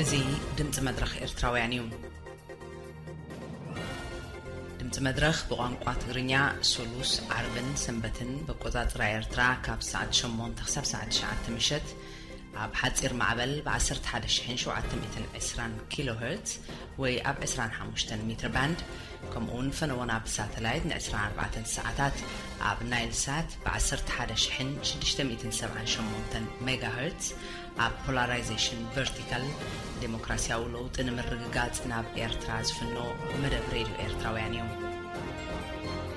እዚ ድምፂ መድረኽ ኤርትራውያን እዩ። ድምፂ መድረኽ ብቋንቋ ትግርኛ ሱሉስ፣ ዓርብን ሰንበትን በቆፃፅራ ኤርትራ ካብ ሰዓት ሸሞንተ ክሳብ ሰዓት ትሽዓተ ምሸት፣ ኣብ ሓጺር ማዕበል ብ ዓሰርተ ሓደ ሽሕን ሸውዓተ ሚእትን ዕስራን ኪሎ ሀርትዝ ወይ ኣብ ዕስራን ሓሙሽተን ሚትር ባንድ ከምኡውን ፈነወና ብሳተላይት ን ዕስራን ኣርባዕተን ሰዓታት ኣብ ናይል ሳት ብ ዓሰርተ ሓደ ሽሕን ሽዱሽተ ሚእትን ሰብዓን ሸሞንተን ሜጋ ሀርትዝ ኣብ ፖላራይዜሽን ቨርቲካል ዴሞክራሲያዊ ለውጢ ንምርግጋጽ ናብ ኤርትራ ዝፍኖ መደብ ሬድዮ ኤርትራውያን እዩ።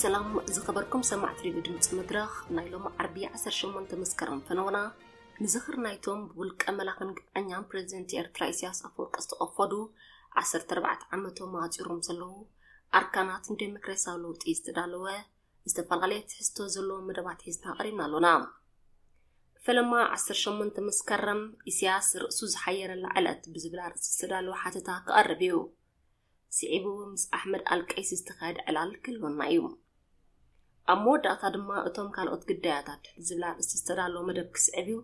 ሰላም ዝኸበርኩም ሰማዕቲ ሬድዮ ድምፂ መድረኽ ናይ ሎሚ ዓርቢ 18 መስከረም ፈነወና ንዝኽር ናይቶም ብውልቀ መላኽን ግብዐኛን ፕሬዚደንት ኤርትራ ኢሳያስ ኣፈወርቂ ዝተቐፈዱ 14 ዓመቶም ኣፂሮም ዘለዉ ኣርካናት ንዴሞክራሲያዊ ለውጢ ዝተዳለወ ዝተፈላለየ ትሕዝቶ ዘለዎም መደባት ሒዝና ቀሪብና ኣሎና። ፈለማ ዓሰርተ ሸሞንተ መስከረም ኢሳያስ ርእሱ ዝሓየረላ ዕለት ብዝብል ኣርእስቲ ዝተዳለወ ሓተታ ክቐርብ እዩ። ስዒቡ ምስ ኣሕመድ ኣልቀይሲ ዝተኻየደ ዕላል ክህልወና እዩ። ኣብ መወዳእታ ድማ እቶም ካልኦት ግዳያታት ዝብል ኣርእስቲ ዝተዳለወ መደብ ክስዕብ እዩ።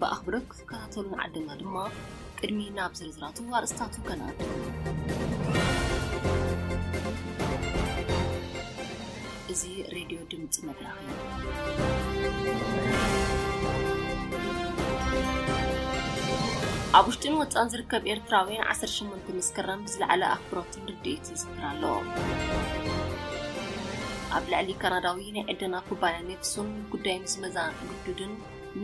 ብኣኽብሮት ክትከታተሉ ምዓደምና ድማ ቅድሚ ናብ ዝርዝራቱ ኣርእስታቱ ከነኣቱ። እዚ ሬድዮ ድምፂ መድረኽ እዩ። ኣብ ውሽጥን ወፃን ዝርከብ ኤርትራውያን 18 መስከረም ብዝለዓለ ኣኽብሮትን ርድኢት ይዝክር ኣሎ። ኣብ ልዕሊ ካናዳዊ ናይ ዕደና ኩባንያ ኔክሱን ጉዳይ ምስ መዛ ግዱድን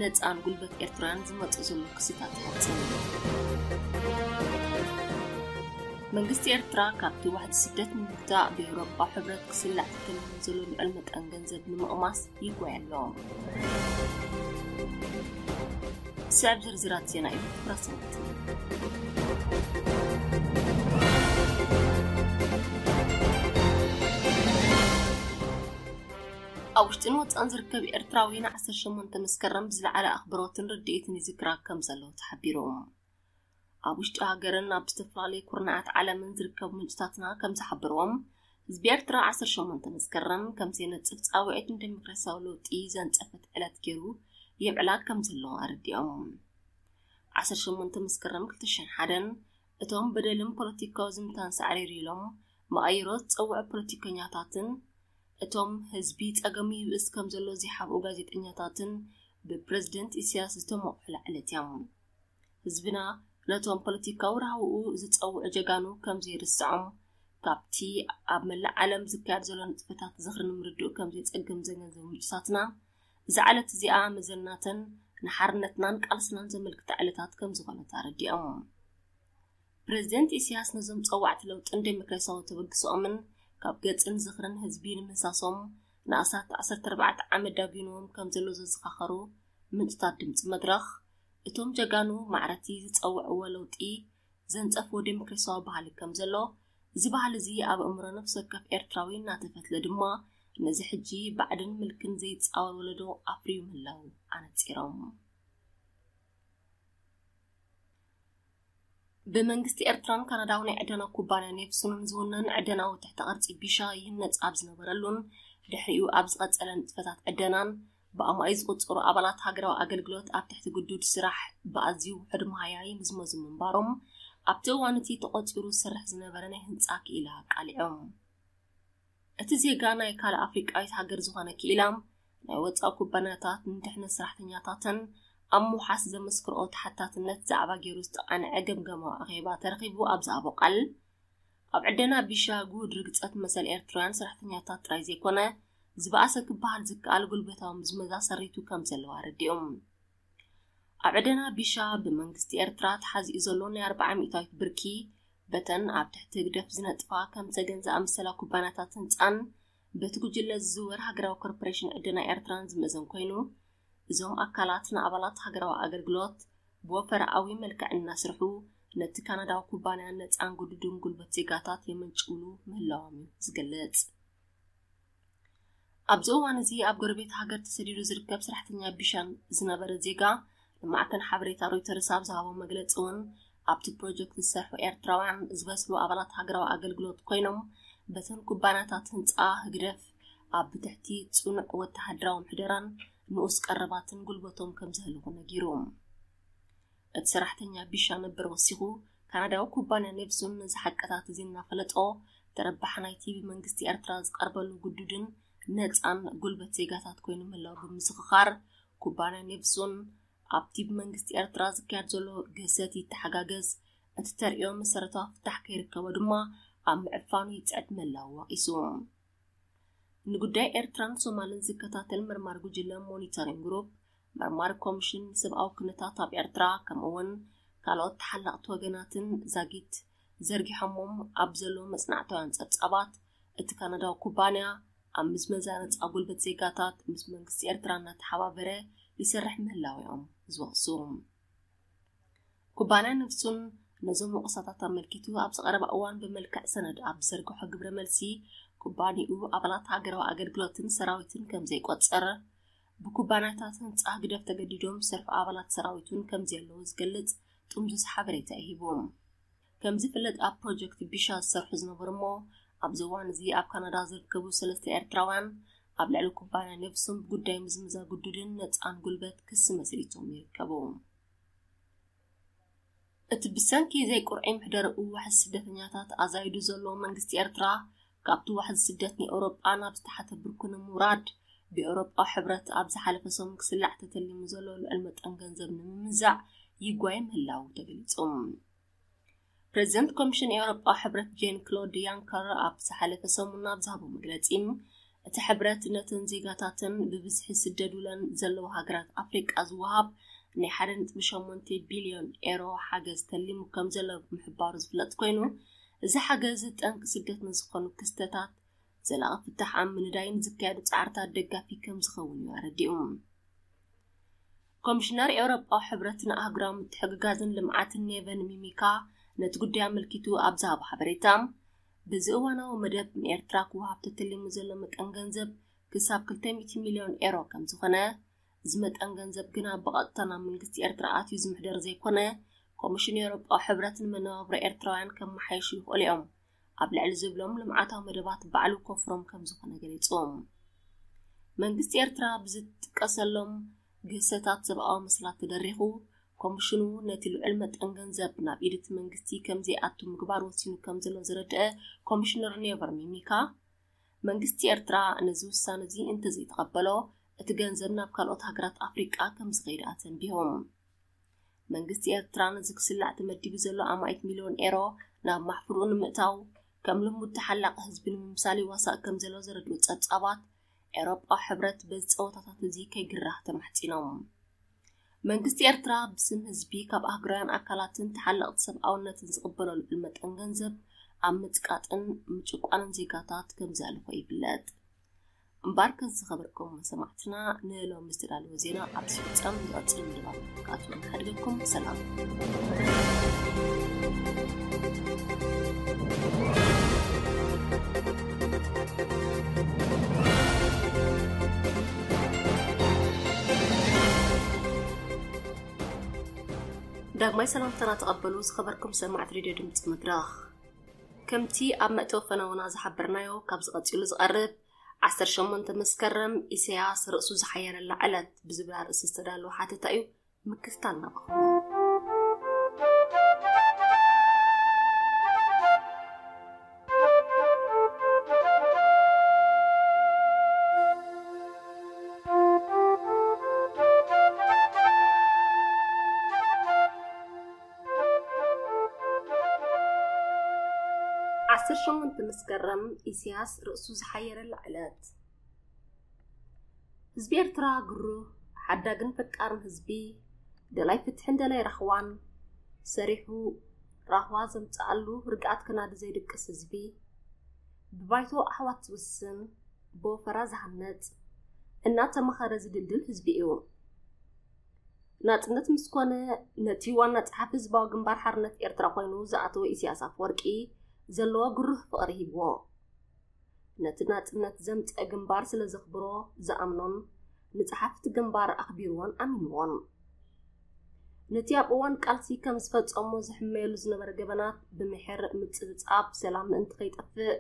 ነጻን ጉልበት ኤርትራን ዝመጽእ ዘሎ ክስታት ይሓጽን። መንግስቲ ኤርትራ ካብቲ ዋሕዲ ስደት ንምግታእ ብኤውሮጳ ሕብረት ክስላዕ ተተልሙ ዘሎ ልዑል መጠን ገንዘብ ንምቕማስ ይጓየ ኣሎ። ስዕብ ዝርዝራት ዜና እዩ ራሰነት ኣብ ውሽጥን ወፃእን ዝርከብ ኤርትራዊ ን ዓሰርተ ሸሞንተ መስከረም ብዝለዓለ ኣኽብሮትን ርድኢትን ይዝክራ ከም ዘሎ ተሓቢሩ። ኣብ ውሽጢ ሃገርን ኣብ ዝተፈላለዩ ኩርናዓት ዓለምን ዝርከቡ ምንጭታትና ከም ዝሓበርዎም ህዝቢ ኤርትራ 18 መስከረም ከም ዘይነጽፍ ጻውዒት ንደሞክራሲያዊ ለውጢ ዘንጸፈት ዕለት ገይሩ የብዕላ ከም ዘሎ ኣረዲኦም 18 መስከረም 2001 እቶም በደልን ፖለቲካዊ ዝምታን ሳዕሪር ኢሎም መቐይሮ ዝጸውዑ ፖለቲከኛታትን እቶም ህዝቢ ጸገሙ ይብእስ ከም ዘሎ ዚሓብኡ ጋዜጠኛታትን ብፕረዚደንት ኢሳያስ ዝተሞቕሑ ላዕለት እዮም። ህዝብና ነቶም ፖለቲካዊ ራህውኡ ዝጸውዑ ጀጋኑ ከም ዘይርስዖም ካብቲ ኣብ መላእ ዓለም ዝካየድ ዘሎ ንጥፈታት ዝኽሪ ንምርድኡ ከም ዘይጸግም ዘገንዘቡ ምንጭታትና እዛ ዕለት እዚኣ መዘናትን ንሓርነትናን ቃልስናን ዘመልክታ ዕለታት ከም ዝኾነት ኣረዲኦም። ፕሬዝደንት ኢሳያስ ነዞም ጸዋዕቲ ለውጥን ዴሞክራሲያዊ ተበግሶኦምን ካብ ገጽን ዝኽርን ህዝቢ ንምህሳሶም ንኣስታት ዓሰርተ ኣርባዕተ ዓመት ዳጒኑዎም ከም ዘሎ ዘዘኻኸሩ ምንጭታት ድምጺ መድረኽ እቶም ጀጋኑ ማዕረቲ ዝጸውዕዎ ለውጢ ዘንጸፎ ደሞክራሲያዊ ባህሊ ከም ዘሎ እዚ ባህሊ እዚ ኣብ እምሮ ነፍሲ ወከፍ ኤርትራዊ እናተፈትለ ድማ ነዚ ሕጂ ባዕድን ምልክን ዘይጻወር ወለዶ ኣፍርዩ ምህላው ኣነጺሮም። ብመንግስቲ ኤርትራን ካናዳዊ ናይ ዕደና ኩባንያ ኔፕሱንን ዝውነን ዕደናዊ ትሕተ ቅርጺ ቢሻ ይህነጽ ኣብ ዝነበረሉን ድሕሪኡ ኣብ ዝቐጸለ ንጥፈታት ዕደናን ብኣማኢት ዝቑጸሩ ኣባላት ሃገራዊ ኣገልግሎት ኣብ ትሕቲ ግዱድ ስራሕ ብኣዝዩ ውሑድ መሃያ ይምዝመዙ ምንባሮም ኣብቲ እዋን እቲ ተቖጺሩ ዝሰርሕ ዝነበረ ናይ ህንጻ ክኢላ ኣቃሊዖም። እቲ ዜጋ ናይ ካልእ ኣፍሪቃዊት ሃገር ዝኾነ ክኢላ ናይ ወጻኢ ኩባንያታት ንድሕነት ሰራሕተኛታተን ኣብ ምውሓስ ዘመስክርኦ ተሓታትነት ዛዕባ ገይሩ ዝተቓንዐ ገምገማዊ ኣኼባ ተረኺቡ ኣብ ዝሃቦ ቃል ኣብ ዕደና ቢሻ ግሁድ ርግጸት መሰል ኤርትራውያን ሰራሕተኛታት ጥራይ ዘይኮነ ዝበኣሰ ክበሃል ዝከኣል ጉልበታዊ ምዝመዛ ሰሪቱ ከም ዘለዋ ኣረዲኦም። ኣብ ዕደና ቢሻ ብመንግስቲ ኤርትራ ተሓዚኡ ዘሎ ናይ ኣርብዓ ሚእታዊት ብርኪ በተን ኣብ ትሕቲ ህግደፍ ዝነጥፋ ከም ሰገን ዝኣመሰላ ኩባንያታት ህንጻን በቲ ጉጅለ ዝዝወር ሃገራዊ ኮርፖሬሽን ዕደና ኤርትራን ዝምእዘን ኮይኑ እዞም ኣካላት ንኣባላት ሃገራዊ ኣገልግሎት ብወፈራኣዊ መልክዕ እናስርሑ ነቲ ካናዳዊ ኩባንያ ነፃን ግዱድን ጉልበት ዜጋታት የመንጭውሉ ምህላዎም እዩ ዝገልጽ። ኣብዚ እዋን እዚ ኣብ ጎረቤት ሃገር ተሰዲዱ ዝርከብ ሰራሕተኛ ቢሻን ዝነበረ ዜጋ ንማዕከን ሓበሬታ ሮይተርስ ኣብ ዝሃቦ መግለጺ እውን ኣብቲ ፕሮጀክት ዝሰርሑ ኤርትራውያን ዝበስሉ ኣባላት ሃገራዊ ኣገልግሎት ኮይኖም በተን ኩባንያታት ህንፃ ህግደፍ ኣብ ብትሕቲ ጽኑዕ ወተሃደራዊ ምሕደራን ንኡስ ቀረባትን ጉልበቶም ከም ዘህልኹ ነጊሩ እቲ ሰራሕተኛ ቢሻ ነበር ወሲኹ ካናዳዊ ኩባንያ ኔፕሱን ነዚ ሓቀታት እዚ እናፈለጦ ተረባሕ ናይቲ ብመንግስቲ ኤርትራ ዝቐርበሉ ግዱድን ነፃን ጉልበት ዜጋታት ኮይኑ ምህላው ብምስኽኻር ኩባንያ ኔቭዞን ኣብቲ ብመንግስቲ ኤርትራ ዝካየድ ዘሎ ግህሰት ይተሓጋገዝ፣ እቲ ተርእዮ መሰረታዊ ፍታሕ ከይርከቦ ድማ ኣብ ምዕፋኑ ይጽዕት ምህላዉ ወቒሱ። ንጉዳይ ኤርትራን ሶማልን ዝከታተል መርማሪ ጉጅለ ሞኒተሪን ግሩፕ፣ መርማሪ ኮሚሽን ንሰብኣዊ ኩነታት ኣብ ኤርትራ ከምኡ'ውን ካልኦት ተሓለቕቲ ወገናትን ዛጊት ዘርጊሖሞም ኣብ ዘለዉ መጽናዕታውያን ጸብጻባት እቲ ካናዳዊ ኩባንያ ኣብ ምዝመዛ ነፃ ጉልበት ዜጋታት ምስ መንግስቲ ኤርትራ እናተሓባበረ ይሰርሕ ምህላው እዮም ዝወቕሱ ኩባንያ ነፍሱን ነዞም ወቐሳታት ኣመልኪቱ ኣብዚ ቀረባ እዋን ብመልክዕ ሰነድ ኣብ ዝዘርግሖ ግብረ መልሲ ኩባንኡ ኣባላት ሃገራዊ ኣገልግሎትን ሰራዊትን ከም ዘይቆፀረ ብኩባንያታት ህንፃ ህግደፍ ተገዲዶም ዝሰርሑ ኣባላት ሰራዊቱን ከም ዘየለዉ ዝገልጽ ጥምዙዝ ሓበሬታ ይሂቦም ከም ዝፍለጥ ኣብ ፕሮጀክት ቢሻ ዝሰርሑ ዝነበሩ እሞ ኣብዚ እዋን እዚ ኣብ ካናዳ ዝርከቡ ሰለስተ ኤርትራውያን ኣብ ልዕሊ ኩባንያ ነብሶም ብጉዳይ ምዝምዛ ግዱድን ነፃን ጉልበት ክሲ መስሪቶም ይርከቡ። እቲ ብሰንኪ ዘይቁርዒ ምሕደርኡ ዋሕዚ ስደተኛታት ኣዛይዱ ዘሎ መንግስቲ ኤርትራ ካብቲ ዋሕዚ ስደት ንኤውሮጳ ናብ ዝተሓተ ብርኩ ንምውራድ ብኤውሮጳዊ ሕብረት ኣብ ዝሓለፈ ሰሙን ክስላዕ ተተሊሙ ዘሎ ልዑል መጠን ገንዘብ ንምምዛዕ ይጓየ ምህላው ተገሊጹ ፕረዚደንት ኮሚሽን ኤውሮጳዊ ሕብረት ጄን ክሎድ ያንከር ኣብ ዝሓለፈ ሰሙን ኣብ ዝሃቦ መግለጺ እቲ ሕብረት ነተን ዜጋታተን ብብዝሒ ዝስደዱለን ዘለዉ ሃገራት ኣፍሪቃ ዝወሃብ ናይ 1.8 ቢልዮን ኤሮ ሓገዝ ተሊሙ ከም ዘሎ ምሕባሩ ዝፍለጥ ኮይኑ እዚ ሓገዝ ጠንቂ ስደት ንዝኾኑ ክስተታት ዘላቒ ፍታሕ ኣብ ምንዳይን ዝካየዱ ጻዕርታት ደጋፊ ከም ዝኸውን እዩ ኣረዲኡ። ኮሚሽነር ኤውሮጳዊ ሕብረት ንኣህጉራዊ ምትሕግጋዝን ልምዓትን ኔቨን ሚሚካ ነቲ ጉዳይ ኣመልኪቱ ኣብ ዝሃቦ ሓበሬታ በዚ እዋናዊ መደብ ንኤርትራ ክወሃብ ተተሊሙ ዘሎ መጠን ገንዘብ ክሳብ 200 ሚልዮን ኤሮ ከም ዝኾነ እዚ መጠን ገንዘብ ግና ብቐጥታ ናብ መንግስቲ ኤርትራ ኣትዩ ዝምሕደር ዘይኮነ ኮሚሽን ኤውሮጳዊ ሕብረት ንመነባብሮ ኤርትራውያን ከመሓይሹ ይኽእሉ እዮም ኣብ ልዕሊ ዝብሎም ልምዓታዊ መደባት ባዕሉ ኮፍሮም ከም ዝኾነ ገሊፆም መንግስቲ ኤርትራ ብዝጥቀሰሎም ግህሰታት ሰብኣዊ መስላት ተደሪኹ ኮሚሽኑ ነቲ ልዑል መጠን ገንዘብ ናብ ኢድቲ መንግስቲ ከም ዘይኣቱ ምግባር ወሲኑ ከም ዘሎ ዝረድአ ኮሚሽነር ኔቨር ሚሚካ መንግስቲ ኤርትራ ነዚ ውሳነ እዚ እንተዘይተቐበሎ እቲ ገንዘብ ናብ ካልኦት ሃገራት ኣፍሪቃ ከም ዝኸይድ ኣተንቢሆም መንግስቲ ኤርትራ ነዚ ክስላዕ ተመዲቡ ዘሎ ኣማኢት ሚልዮን ኤሮ ናብ ማሕፍርኡ ንምእታው ከም ልሙድ ተሓላቂ ህዝቢ ንምምሳል ይዋሳእ ከም ዘሎ ዘረድኡ ጸብጻባት ኤሮጳዊ ሕብረት በዚ ጸወታታት እዚ ከይግራህ ተማሕጺኖም መንግስቲ ኤርትራ ብስም ህዝቢ ካብ ኣህግራውያን ኣካላትን ተሓለቕቲ ሰብኣውነትን ዝቕበሎ ልዑል መጠን ገንዘብ ኣብ ምጽቃጥን ምጭቋንን ዜጋታት ከምዚ ኣልኾ ይፍለጥ እምበኣር ከዚ ዝኸበርኩም ሰማዕትና ንሎሚ ዝተዳለወ ዜና ኣብዚ ፍጻም ዝቐጽል ምድባት ክኣቱ ንሓድገኩም ሰላም ዳግማይ ሰላምታና ተቐበሉ ዝኸበርኩም ሰማዕት ሬድዮ ድምፂ ምድራኽ ከምቲ ኣብ መእተዊ ፈነወና ዝሓበርናዮ ካብዚ ቀጺሉ ዝቐርብ ዓሰርተ ሸሞንተ መስከረም ኢሰያስ ርእሱ ዝሓየረላ ዕለት ብዝብል ኣርእስቲ ዝተዳለወ ሓተታ እዩ ምክትታል ናባኹም ዓሰርተ ሸሞንተ መስከረም ኢሲያስ ርእሱ ዝሓየረላ ዕለት። ህዝቢ ኤርትራ ግሩህ፣ ሓዳግን ፈቃርን ህዝቢ፣ ደላይ ፍትሕን ደላይ ራህዋን፣ ሰሪሑ ራህዋ ዘምጽኣሉ ርግኣት ከናዲ ዘይድቅስ ህዝቢ፣ ብባይቶ ኣሕዋት ዝውስን፣ ብወፈራ ዝሃነጽ፣ እናተማኸረ ዝድልድል ህዝቢ እዩ። ናጽነት ምስ ኮነ ነቲ ዋና ጸሓፊ ህዝባዊ ግንባር ሓርነት ኤርትራ ኮይኑ ዝኣተወ ኢሳያስ ኣፈወርቂ ዘለዎ ግሩህ ፍቕሪ ሂብዎ ነቲ ናጽነት ዘምጸ ግንባር ስለ ዘኽብሮ ዝኣምኖን ንጸሓፍቲ ግንባር ኣኽቢርዎን ኣሚንዎን ነቲ ኣብ እዋን ቃልሲ ከም ዝፈጸሞ ዝሕመየሉ ዝነበረ ገበናት ብምሕር ምጽብጻብ ሰላም ምእንቲ ከይጠፍእ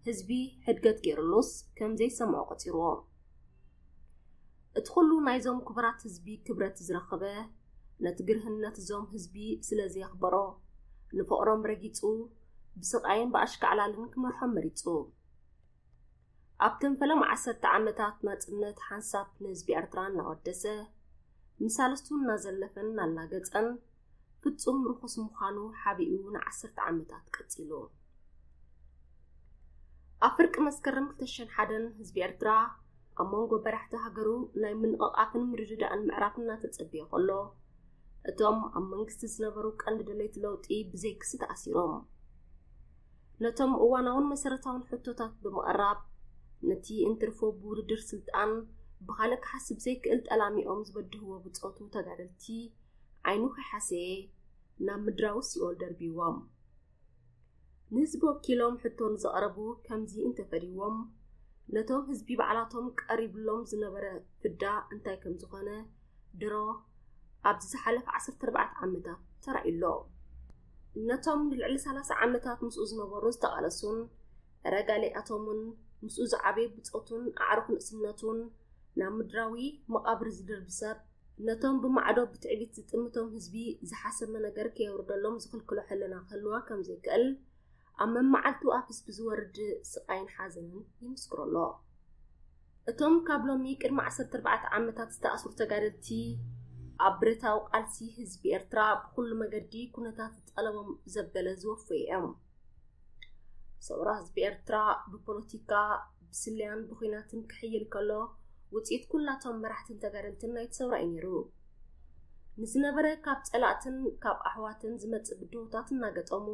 ህዝቢ ሕድገት ገይሩሉስ ከም ዘይሰምዖ ቆጺርዎ እቲ ኩሉ ናይዞም ክቡራት ህዝቢ ክብረት ዝረኸበ ነቲ ግርህነት እዞም ህዝቢ ስለ ዘየኽበሮ ንፍቕሮም ረጊጹ ብስቓይን ብኣሽካዕላልን ክመርሖም መሪጹ ኣብተን ፈለማ ዓሰርተ ዓመታት ናጽነት ሓንሳብ ንህዝቢ ኤርትራ እናወደሰ ንሳልስቱ እናዘለፈን እናላገጸን ፍጹም ርኹስ ምዃኑ ሓቢኡ ንዓሰርተ ዓመታት ቀጺሉ። ኣብ ፍርቂ መስከረም 2001 ህዝቢ ኤርትራ ኣብ መንጎ በራሕቲ ሃገሩ ናይ ምንቕቓፍን ምርድዳእን ምዕራፍ እናተጸበየ ከሎ እቶም ኣብ መንግስቲ ዝነበሩ ቀንዲ ደለይቲ ለውጢ ብዘይክሲ ተኣሲሮም ነቶም እዋናውን መሰረታውን ሕቶታት ብምቕራብ ነቲ እንትርፎ ብውድድር ስልጣን ብኻልእ ክሓስብ ዘይክእል ጠላሚኦም ዝበድህዎ ብፆቱ ተጋደልቲ ዓይኑ ከይሓሰየ ናብ ምድራዊ ሲኦል ደርብይዎም። ንህዝቢ ወኪሎም ሕቶ ንዘቕረቡ ከምዚ እንተፈድይዎም፣ ነቶም ህዝቢ ባዕላቶም ቀሪብሎም ዝነበረ ፍዳ እንታይ ከም ዝኾነ ድሮ ኣብዚ ዝሓለፈ ዓሰርተ ኣርባዕተ ዓመታት ተራእዩ ኣሎ። ነቶም ንልዕሊ ሰላሳ ዓመታት ምስኡ ዝነበሩን ዝተቓለሱን ረጋሊኣቶምን ምስኡ ዝዓበዩ ብጾቱን ኣዕሩኽ ንእስነቱን ናብ ምድራዊ መቓብር ዝድርቢ ሰብ ነቶም ብማዕዶ ብትዕቢት ዝጥምቶም ህዝቢ ዝሓሰመ ነገር ከየውርደሎም ዝኽልክሎ ሕልና ክህልዋ ከም ዘይክእል ኣብ መመዓልቱ ኣብ ህዝቢ ዝወርድ ስቓይን ሓዘንን ይምስክሮ ኣሎ። እቶም ካብ ሎሚ ቅድሚ 14 ዓመታት ዝተኣስሩ ተጋደልቲ ኣብ ብረታዊ ቃልሲ ህዝቢ ኤርትራ ብኩሉ መገዲ ኩነታት ዝጠለቦም ዘበለ ዝወፈዩ እዮም። ሰውራ ህዝቢ ኤርትራ ብፖለቲካ ብስለያን ብኹናትን ክሕይል ከሎ ውጽኢት ኩላቶም መራሕትን ተጋደልትን ናይቲ ሰውራ እዩ ነይሩ። ንዝነበረ ካብ ጸላእትን ካብ ኣሕዋትን ዝመጽእ ብድሆታት እናገጠሙ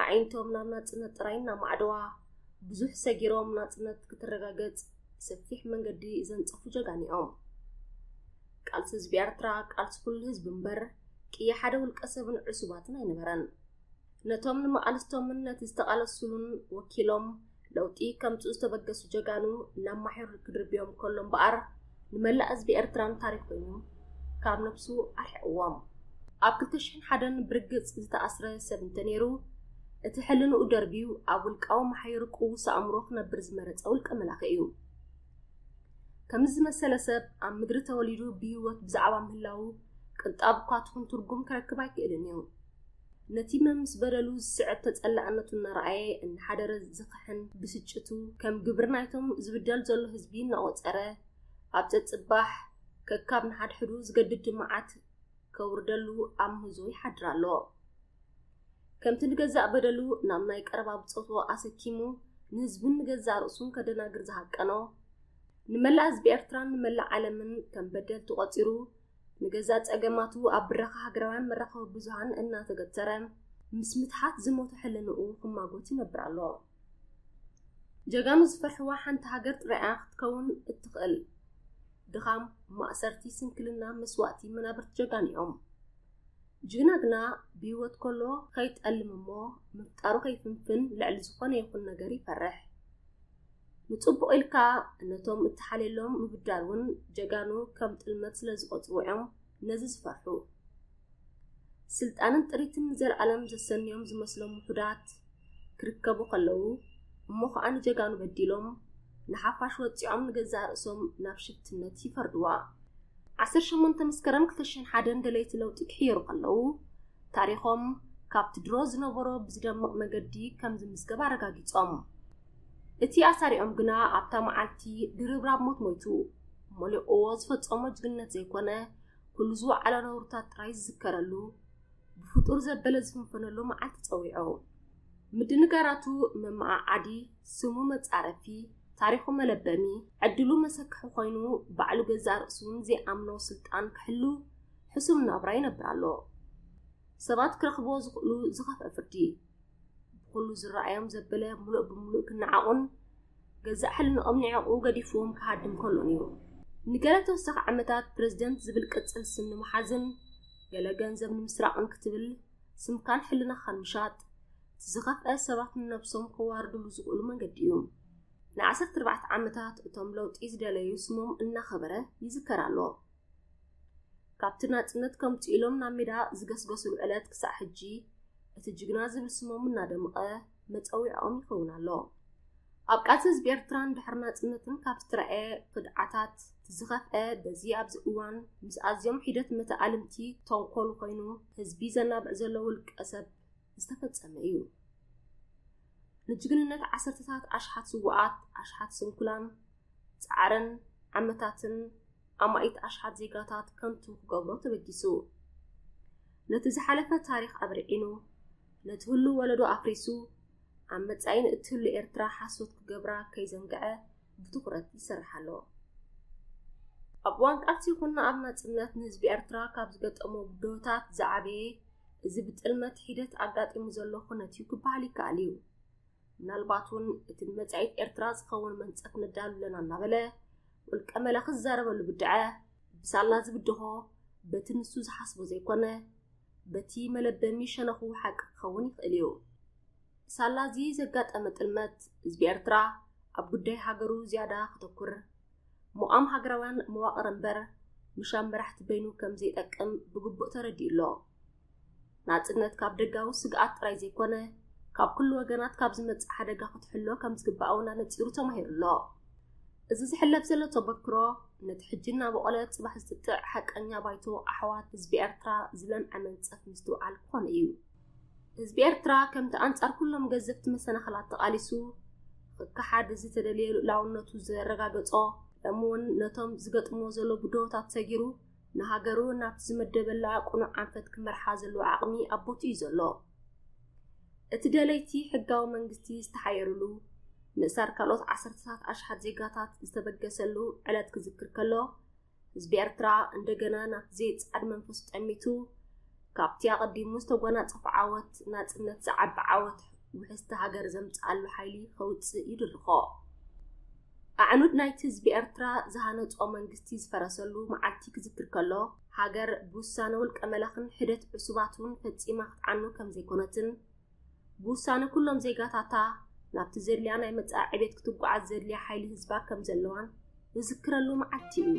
ኣዒንቶም ናብ ናጽነት ጥራይ እናማዕደዋ ብዙሕ ሰጊሮም ናጽነት ክትረጋገጽ ሰፊሕ መንገዲ ዘንጸፉ ጀጋን እዮም። ቃልሲ ህዝቢ ኤርትራ ቃልሲ ኩሉ ህዝቢ እምበር ቅያ ሓደ ውልቀ ሰብን ዕሱባትን ኣይነበረን። ነቶም ንመቓልስቶምን ነቲ ዝተቓለሱሉን ወኪሎም ለውጢ ከምጽኡ ዝተበገሱ ጀጋኑ ናብ ማሕዩር ክድርብዮም ከሎ እምበኣር ንመላእ ህዝቢ ኤርትራን ታሪኽ ኮይኑ ካብ ነብሱ ኣርሒቕዎም። ኣብ ክልተ ሽሕን ሓደን ብርግጽ ዝተኣስረ ሰብ እንተነይሩ፣ እቲ ሕልንኡ ደርብዩ ኣብ ውልቃዊ ማሕዩር ቅዉስ ኣእምሮ ክነብር ዝመረጸ ውልቀ መላኺ እዩ። ከምዚ ዝመሰለ ሰብ ኣብ ምድሪ ተወሊዱ ብህይወት ብዛዕባ ምህላዉ ቅንጣብ እኳ ትኹን ትርጉም ክረክብ ኣይክእልን እዩ። ነቲ መምስ በደሉ ዝስዕብ ተጸላዕነቱ እናረኣየ እናሓደረ ዝኸሕን ብስጭቱ ከም ግብሪ ናይቶም ዝብደል ዘሎ ህዝቢ እናቖጸረ ኣብ ጸጽባሕ ከካብ ንሓድሕዱ ዝገድድ ድማዓት ከውርደሉ ኣብ ምህዞ ይሓድር ኣሎ። ከምቲ ንገዛእ በደሉ ናብ ናይ ቀረባ ብጾቱ ኣሰኪሙ ንህዝብን ንገዛእ ርእሱን ከደናግር ዝሃቀኖ ንመላእ ህዝቢ ኤርትራን ንመላእ ዓለምን ከም በደልቲ ቆጺሩ ንገዛእ ጸገማቱ ኣብ ብረኻ ሃገራውያን መራኸቢ ብዙሃን እናተገተረ ምስ ምትሓት ዝሞተ ሕልንኡ ክማጎት ይነብር ኣሎ። ጀጋኑ ዝፈርሕዋ ሓንቲ ሃገር ጥራይ እያ ክትከውን እትኽእል። ድኻም፣ ማእሰርቲ፣ ስንክልና፣ መስዋእቲ መናብርቲ ጀጋኑ እዮም። ጅግና ግና ብህይወት ከሎ ከይጠልም እሞ ምፍጣሩ ከይፍንፍን ልዕሊ ዝኾነ ይኹን ነገር ይፈርሕ። ንጽቡቕ ኢልካ ነቶም እትሓልየሎም ምብዳል እውን ጀጋኑ ከም ጥልመት ስለ ዝቖጽርዎ እዮም ነዚ ዝፈርሑ። ስልጣንን ጥሪትን ንዘለኣለም ዘሰንዮም ዝመስሎም ውሑዳት ክርከቡ ከለዉ እሞ ኸኣ ንጀጋኑ በዲሎም ንሓፋሽ ወጺዖም ንገዛእ ርእሶም ናብ ሽፍትነት ይፈርድዋ። ዓሰርተ ሸሞንተ መስከረም ክልተ ሽሕን ሓደን ደለይቲ ለውጢ ክሕየሩ ከለዉ ታሪኾም ካብቲ ድሮ ዝነበሮ ብዝደምቕ መገዲ ከም ዝምዝገብ ኣረጋጊጾም። እቲ ኣሳሪኦም ግና ኣብታ መዓልቲ ድርብራብ ሞት ሞይቱ። ሞሌቆ ዝፈጸሞ ጅግነት ዘይኮነ ኩሉ ዝወዓሎ ነውርታት ጥራይ ዝዝከረሉ ብፍጡር ዘበለ ዝፍንፈነሉ መዓልቲ ጸዊዑ። ምድንጋራቱ መመዓዓዲ፣ ስሙ መጻረፊ፣ ታሪኹ መለበሚ፣ ዕድሉ መሰክሒ ኮይኑ ባዕሉ ገዛእ ርእሱውን ዘይኣምኖ ስልጣን ክሕሉ ሕሱም ናብራ ይነብር ኣሎ። ሰባት ክረኽብዎ ዝኽእሉ ዝኸፍአ ፍርዲ። ብኹሉ ዝረኣዮም ዘበለ ምሉእ ብምሉእ ክነዓቑን ገዛእ ሕልንኦም ንዕቑ ገዲፍዎም ክሃድም ከሎ ነይሩ። ንገለ ተወሳኺ ዓመታት ፕረዚደንት ዝብል ቅጽል ስም ንምሓዝን ገለ ገንዘብ ንምስራቕን ክትብል ስምካን ሕልናኻን ምሻጥ እቲ ዝኸፍአ ሰባት ንነብሶም ከዋርድሉ ዝኽእሉ መንገዲ እዩ። ንዓሰርተ ኣርባዕተ ዓመታት እቶም ለውጢ ዝደለዩ ስሞም እናኸበረ ይዝከር ኣሎ። ካብቲ ናጽነት ከምጽኡ ኢሎም ናብ ሜዳ ዝገስገስሉ ዕለት ክሳዕ ሕጂ እቲ ጅግና ዝብል ስሞም እናደምቐ መጸዊዖኦም ይኸውን ኣሎ። ኣብ ቃልሲ ህዝቢ ኤርትራን ድሕሪ ናጽነትን ካብ ዝተረኣየ ክድዓታት ዝኸፍአ በዚ ኣብዚ እዋን ምስ ኣዝዮም ሒደት መተ ኣልምቲ ተንኮሉ ኮይኑ ህዝቢ ዘናብዕ ዘሎ ውልቀ ሰብ ዝተፈጸመ እዩ። ንጅግንነት ዓሰርተታት ኣሽሓት ስዋኣት፣ ኣሽሓት ስንኩላን፣ ጻዕርን ዓመታትን ኣማኢት ኣሽሓት ዜጋታት ከንቱ ክገብሮ ተበጊሱ ነቲ ዝሓለፈ ታሪኽ ኣብርዒኑ ነቲ ህሉ ወለዶ ኣፍሪሱ ኣብ መጻኢን እትህሉ ኤርትራ ሓሶት ክገብራ ከይዘንግዐ ብትኹረት ይሰርሕ ኣሎ። ኣብ እዋን ቃልሲ ይኹን ኣብ ናጽነት ንህዝቢ ኤርትራ ካብ ዝገጠሞ ብድሆታት ዝዓበየ እዚ ብጥልመት ሒደት ኣጋጢሙ ዘሎ ኩነት እዩ ክበሃል ይከኣል እዩ። ምናልባት እውን እቲ ንመጻኢት ኤርትራ ዝኸውን መንጸት ነዳሉ ኣለና እናበለ ውልቀ መላኺ ዝዛረበሉ ብድዐ ብሳላ ዝብድሆ በቲ ንሱ ዝሓስቦ ዘይኮነ በቲ መለበሚ ሸነኹ ሓቂ ክኸውን ይኽእል እዩ። ሳላ እዚ ዘጋጠመ ጥልመት ህዝቢ ኤርትራ ኣብ ጉዳይ ሃገሩ ዝያዳ ክተኩር ሙቛም ሃገራውያን መዋቕር እምበር ምሻም መራሕቲ በይኑ ከም ዘይጠቅም ብግቡእ ተረዲኡ ኣሎ። ናጽነት ካብ ደጋዊ ስግኣት ጥራይ ዘይኮነ ካብ ኩሉ ወገናት ካብ ዝመጽእ ሓደጋ ክትሕሎ ከም ዝግባእ እውን ኣነጺሩ ተማሂሩ ኣሎ እዚ ዝሕለፍ ዘሎ ተበክሮ ነቲ ሕጂ እናበቖለ ጽባሕ ዝጥጥዕ ሓቀኛ ባይቶ ኣሕዋት ህዝቢ ኤርትራ ዝለምዐ መንጸፍ ምስትውዓል ክኾነ እዩ ህዝቢ ኤርትራ ከምቲ ኣንጻር ኩሎም ገዘፍቲ መሰናኽላት ተቓሊሱ ክከሓድ ዝተደልየ ልኡላውነቱ ዘረጋገጾ ደሞ እውን ነቶም ዝገጥምዎ ዘሎ ብድሆታት ሰጊሩ ንሃገሩ ናብቲ ዝመደበላ ቅኑዕ ኣንፈት ክመርሓ ዘለዎ ዓቕሚ ኣብ ቦትኡ እዩ ዘሎ። እቲ ደለይቲ ሕጋዊ መንግስቲ ዝተሓየሩሉ፣ ምእሳር ካልኦት ዓሰርተታት ኣሽሓት ዜጋታት ዝተበገሰሉ ዕለት ክዝክር ከሎ፣ ህዝቢ ኤርትራ እንደገና ናብቲ ዘይጸዓድ መንፈሱ ጠሚቱ፣ ካብቲ ኣቐዲሙ ዝተጎናጸፎ ዓወት ናጽነት ዝዓቢ ዓወት ውሕስቲ ሃገር ዘምጽኣሉ ሓይሊ ከውጽእ ይድርኾ። ኣዕኑድ ናይቲ ህዝቢ ኤርትራ ዝሃነጾ መንግስቲ ዝፈረሰሉ መዓልቲ ክዝክር ከሎ፣ ሃገር ብውሳነ ውልቀ መላኽን ሒደት ዕሱባቱን ፈጺማ ክትዓኑ ከም ዘይኮነትን፣ ብውሳነ ኩሎም ዜጋታታ ናብቲ ዘድልያ ናይ መጻኢ ዕቤት ክትጓዓዝ ዘድልያ ሓይሊ ህዝባ ከም ዘለዋን ዝዝክረሉ መዓልቲ እዩ።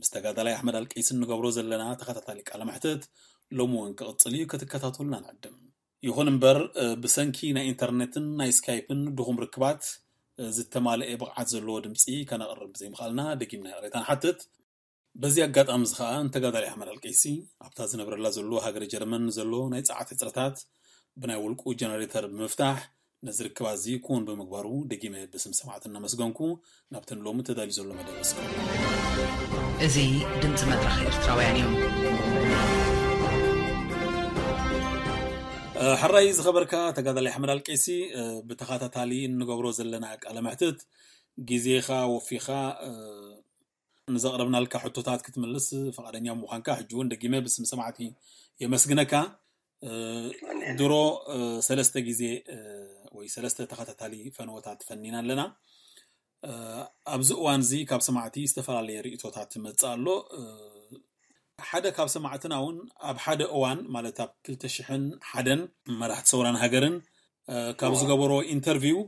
ምስ ተጋዳላይ ኣሕመድ ኣልቀይሲ እንገብሮ ዘለና ተኸታታሊ ቃለ መሕትት ሎሚ እውን ክቕፅል እዩ፣ ክትከታተሉና ንዕድም። ይኹን እምበር ብሰንኪ ናይ ኢንተርኔትን ናይ ስካይፕን ድኹም ርክባት ዝተማልኤ ብቕዓት ዘለዎ ድምፂ ከነቕርብ ብዘይምኽኣልና ደጊምና ይቕሬታ ንሓትት። በዚ ኣጋጣሚ እዚ ከዓ ንተጋዳላይ ኣሕመድ ኣልቀይሲ ኣብታ ዝነብረላ ዘሎ ሃገረ ጀርመን ንዘሎ ናይ ፀዓት ሕፅረታት ብናይ ውልቁ ጀነሬተር ብምፍታሕ ነዚ ርክባት እዚ ክዉን ብምግባሩ ደጊመ ብስም ሰማዕት እናመስገንኩ ናብቲ ንሎሚ ተዳልዩ ዘሎ መደብ እስከ። እዚ ድምጺ መድረኽ ኤርትራውያን እዩ። ሐራይ ዝኸበርካ ተጋዳላይ ኣሕመድ ኣልቄሲ ብተኸታታሊ እንገብሮ ዘለና ቃለ መሕትት ግዜኻ ወፊኻ ንዘቕረብናልካ ሕቶታት ክትምልስ ፍቓደኛ ምዃንካ ሕጂ እውን ደጊመ ብስም ሰማዕቲ የመስግነካ። ድሮ ሰለስተ ግዜ ወይ ሰለስተ ተኸታታሊ ፈንወታት ፈኒና ኣለና። ኣብዚ እዋን እዚ ካብ ሰማዕቲ ዝተፈላለየ ርእቶታት መፅእ ኣሎ ሓደ ካብ ሰማዕትና እውን ኣብ ሓደ እዋን ማለት ኣብ ክልተ ሽሕን ሓደን መራሕቲ ሰውራን ሃገርን ካብ ዝገበሮ ኢንተርቪው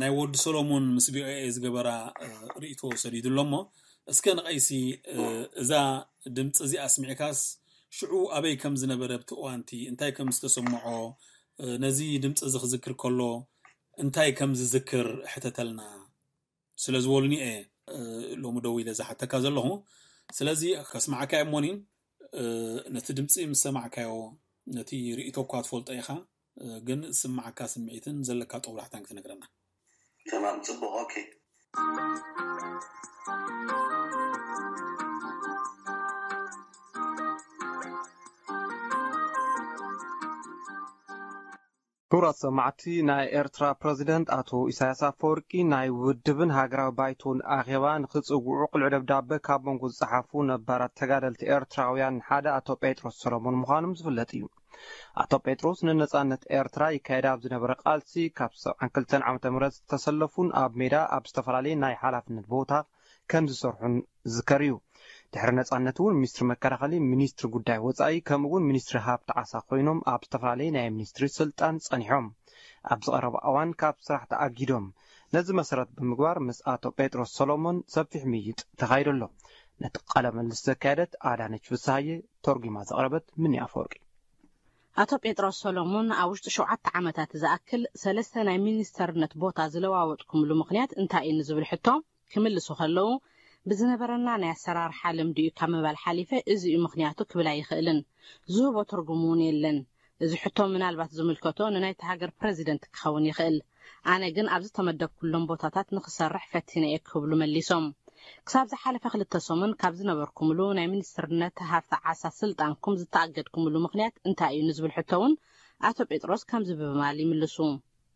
ናይ ወዲ ሰሎሞን ምስ ቪኦኤ ዝገበራ ርእይቶ ሰዲዱ ኣሎ እሞ እስከ ንቀይሲ እዛ ድምጺ እዚኣ ኣስሚዕካስ ሽዑ ኣበይ ከም ዝነበረ ኣብቲ እዋንቲ እንታይ ከም ዝተሰምዖ ነዚ ድምጺ እዚ ክዝክር ከሎ እንታይ ከም ዝዝክር ሕተተልና። ስለ ዝበሉኒ እየ ሎሚ ደው ኢለ ዝሓተካ ዘለኹ ስለዚ ከስማዓካ እየ እሞኒ ነቲ ድምፂ ምስ ሰማዕካዮ ነቲ ርእቶ እኳ ትፈልጦ ኢኻ ግን ዝስማዓካ ስምዒትን ዘለካ ጦብላሕታን ክትነግረና ተማም ፅቡቅ ኦኬ ክቡራት ሰማዕቲ ናይ ኤርትራ ፕረዚደንት ኣቶ ኢሳያስ ኣፈወርቂ ናይ ውድብን ሃገራዊ ባይቶን ኣኼባ ንኽጽውዑ ቅሉዕ ደብዳበ ካብ መንጎ ዝጸሓፉ ነባራት ተጋደልቲ ኤርትራውያን ሓደ ኣቶ ጴጥሮስ ሰሎሞን ምዃኖም ዝፍለጥ እዩ። ኣቶ ጴጥሮስ ንነጻነት ኤርትራ ይካየድ ኣብ ዝነበረ ቃልሲ ካብ ሰብዓን ክልተን ዓመተ ምህረት ዝተሰለፉን ኣብ ሜዳ ኣብ ዝተፈላለየ ናይ ሓላፍነት ቦታ ከም ዝሰርሑን ዝዝከር እዩ። ድሕሪ ነጻነት እውን ሚኒስትሪ መከላኸሊ፣ ሚኒስትሪ ጉዳይ ወጻኢ ከምኡ እውን ሚኒስትሪ ሃብቲ ዓሳ ኮይኖም ኣብ ዝተፈላለየ ናይ ሚኒስትሪ ስልጣን ጸኒሖም። ኣብዚ ቀረባ እዋን ካብ ስራሕ ተኣጊዶም። ነዚ መሰረት ብምግባር ምስ ኣቶ ጴጥሮስ ሰሎሞን ሰፊሕ ምይይጥ ተኻይዱ ኣሎ። ነቲ ቃለ ምልልስ ዘካየደት ኣዳነች ፍስሃየ፣ ተርጒማ ዘቕረበት ምኒ ኣፈወርቂ። ኣቶ ጴጥሮስ ሰሎሞን ኣብ ውሽጢ ሸውዓተ ዓመታት ዝኣክል ሰለስተ ናይ ሚኒስተርነት ቦታ ዝለዋወጥኩምሉ ምኽንያት እንታይ እዩ ንዝብል ሕቶ፣ ክምልሱ ከለዉ፣ ብዝነበረና ናይ ኣሰራርሓ ልምዲ'ዩ ካብ ምባል ሓሊፈ እዚ'ዩ ምኽንያቱ ክብል ኣይኽእልን። ዝህቦ ትርጉም'ውን የለን። እዚ ሕቶ ምናልባት ዝምልከቶ ንናይታ ሃገር ፕረዚደንት ክኸውን ይኽእል። ኣነ ግን ኣብ ዝተመደብኩሎም ቦታታት ንኽሰርሕ ፈቲነ'የ ክብሉ መሊሶም። ክሳብ ዝሓለፈ ክልተ ሰሙን ካብ ዝነበርኩምሉ ናይ ሚኒስትርነት ሃፍቲ ዓሳ ስልጣንኩም ዝተኣገድኩምሉ ምኽንያት እንታይ'ዩ ንዝብል ሕቶ'ውን ኣቶ ጴጥሮስ ከምዚ ብምባል ይምልሱ።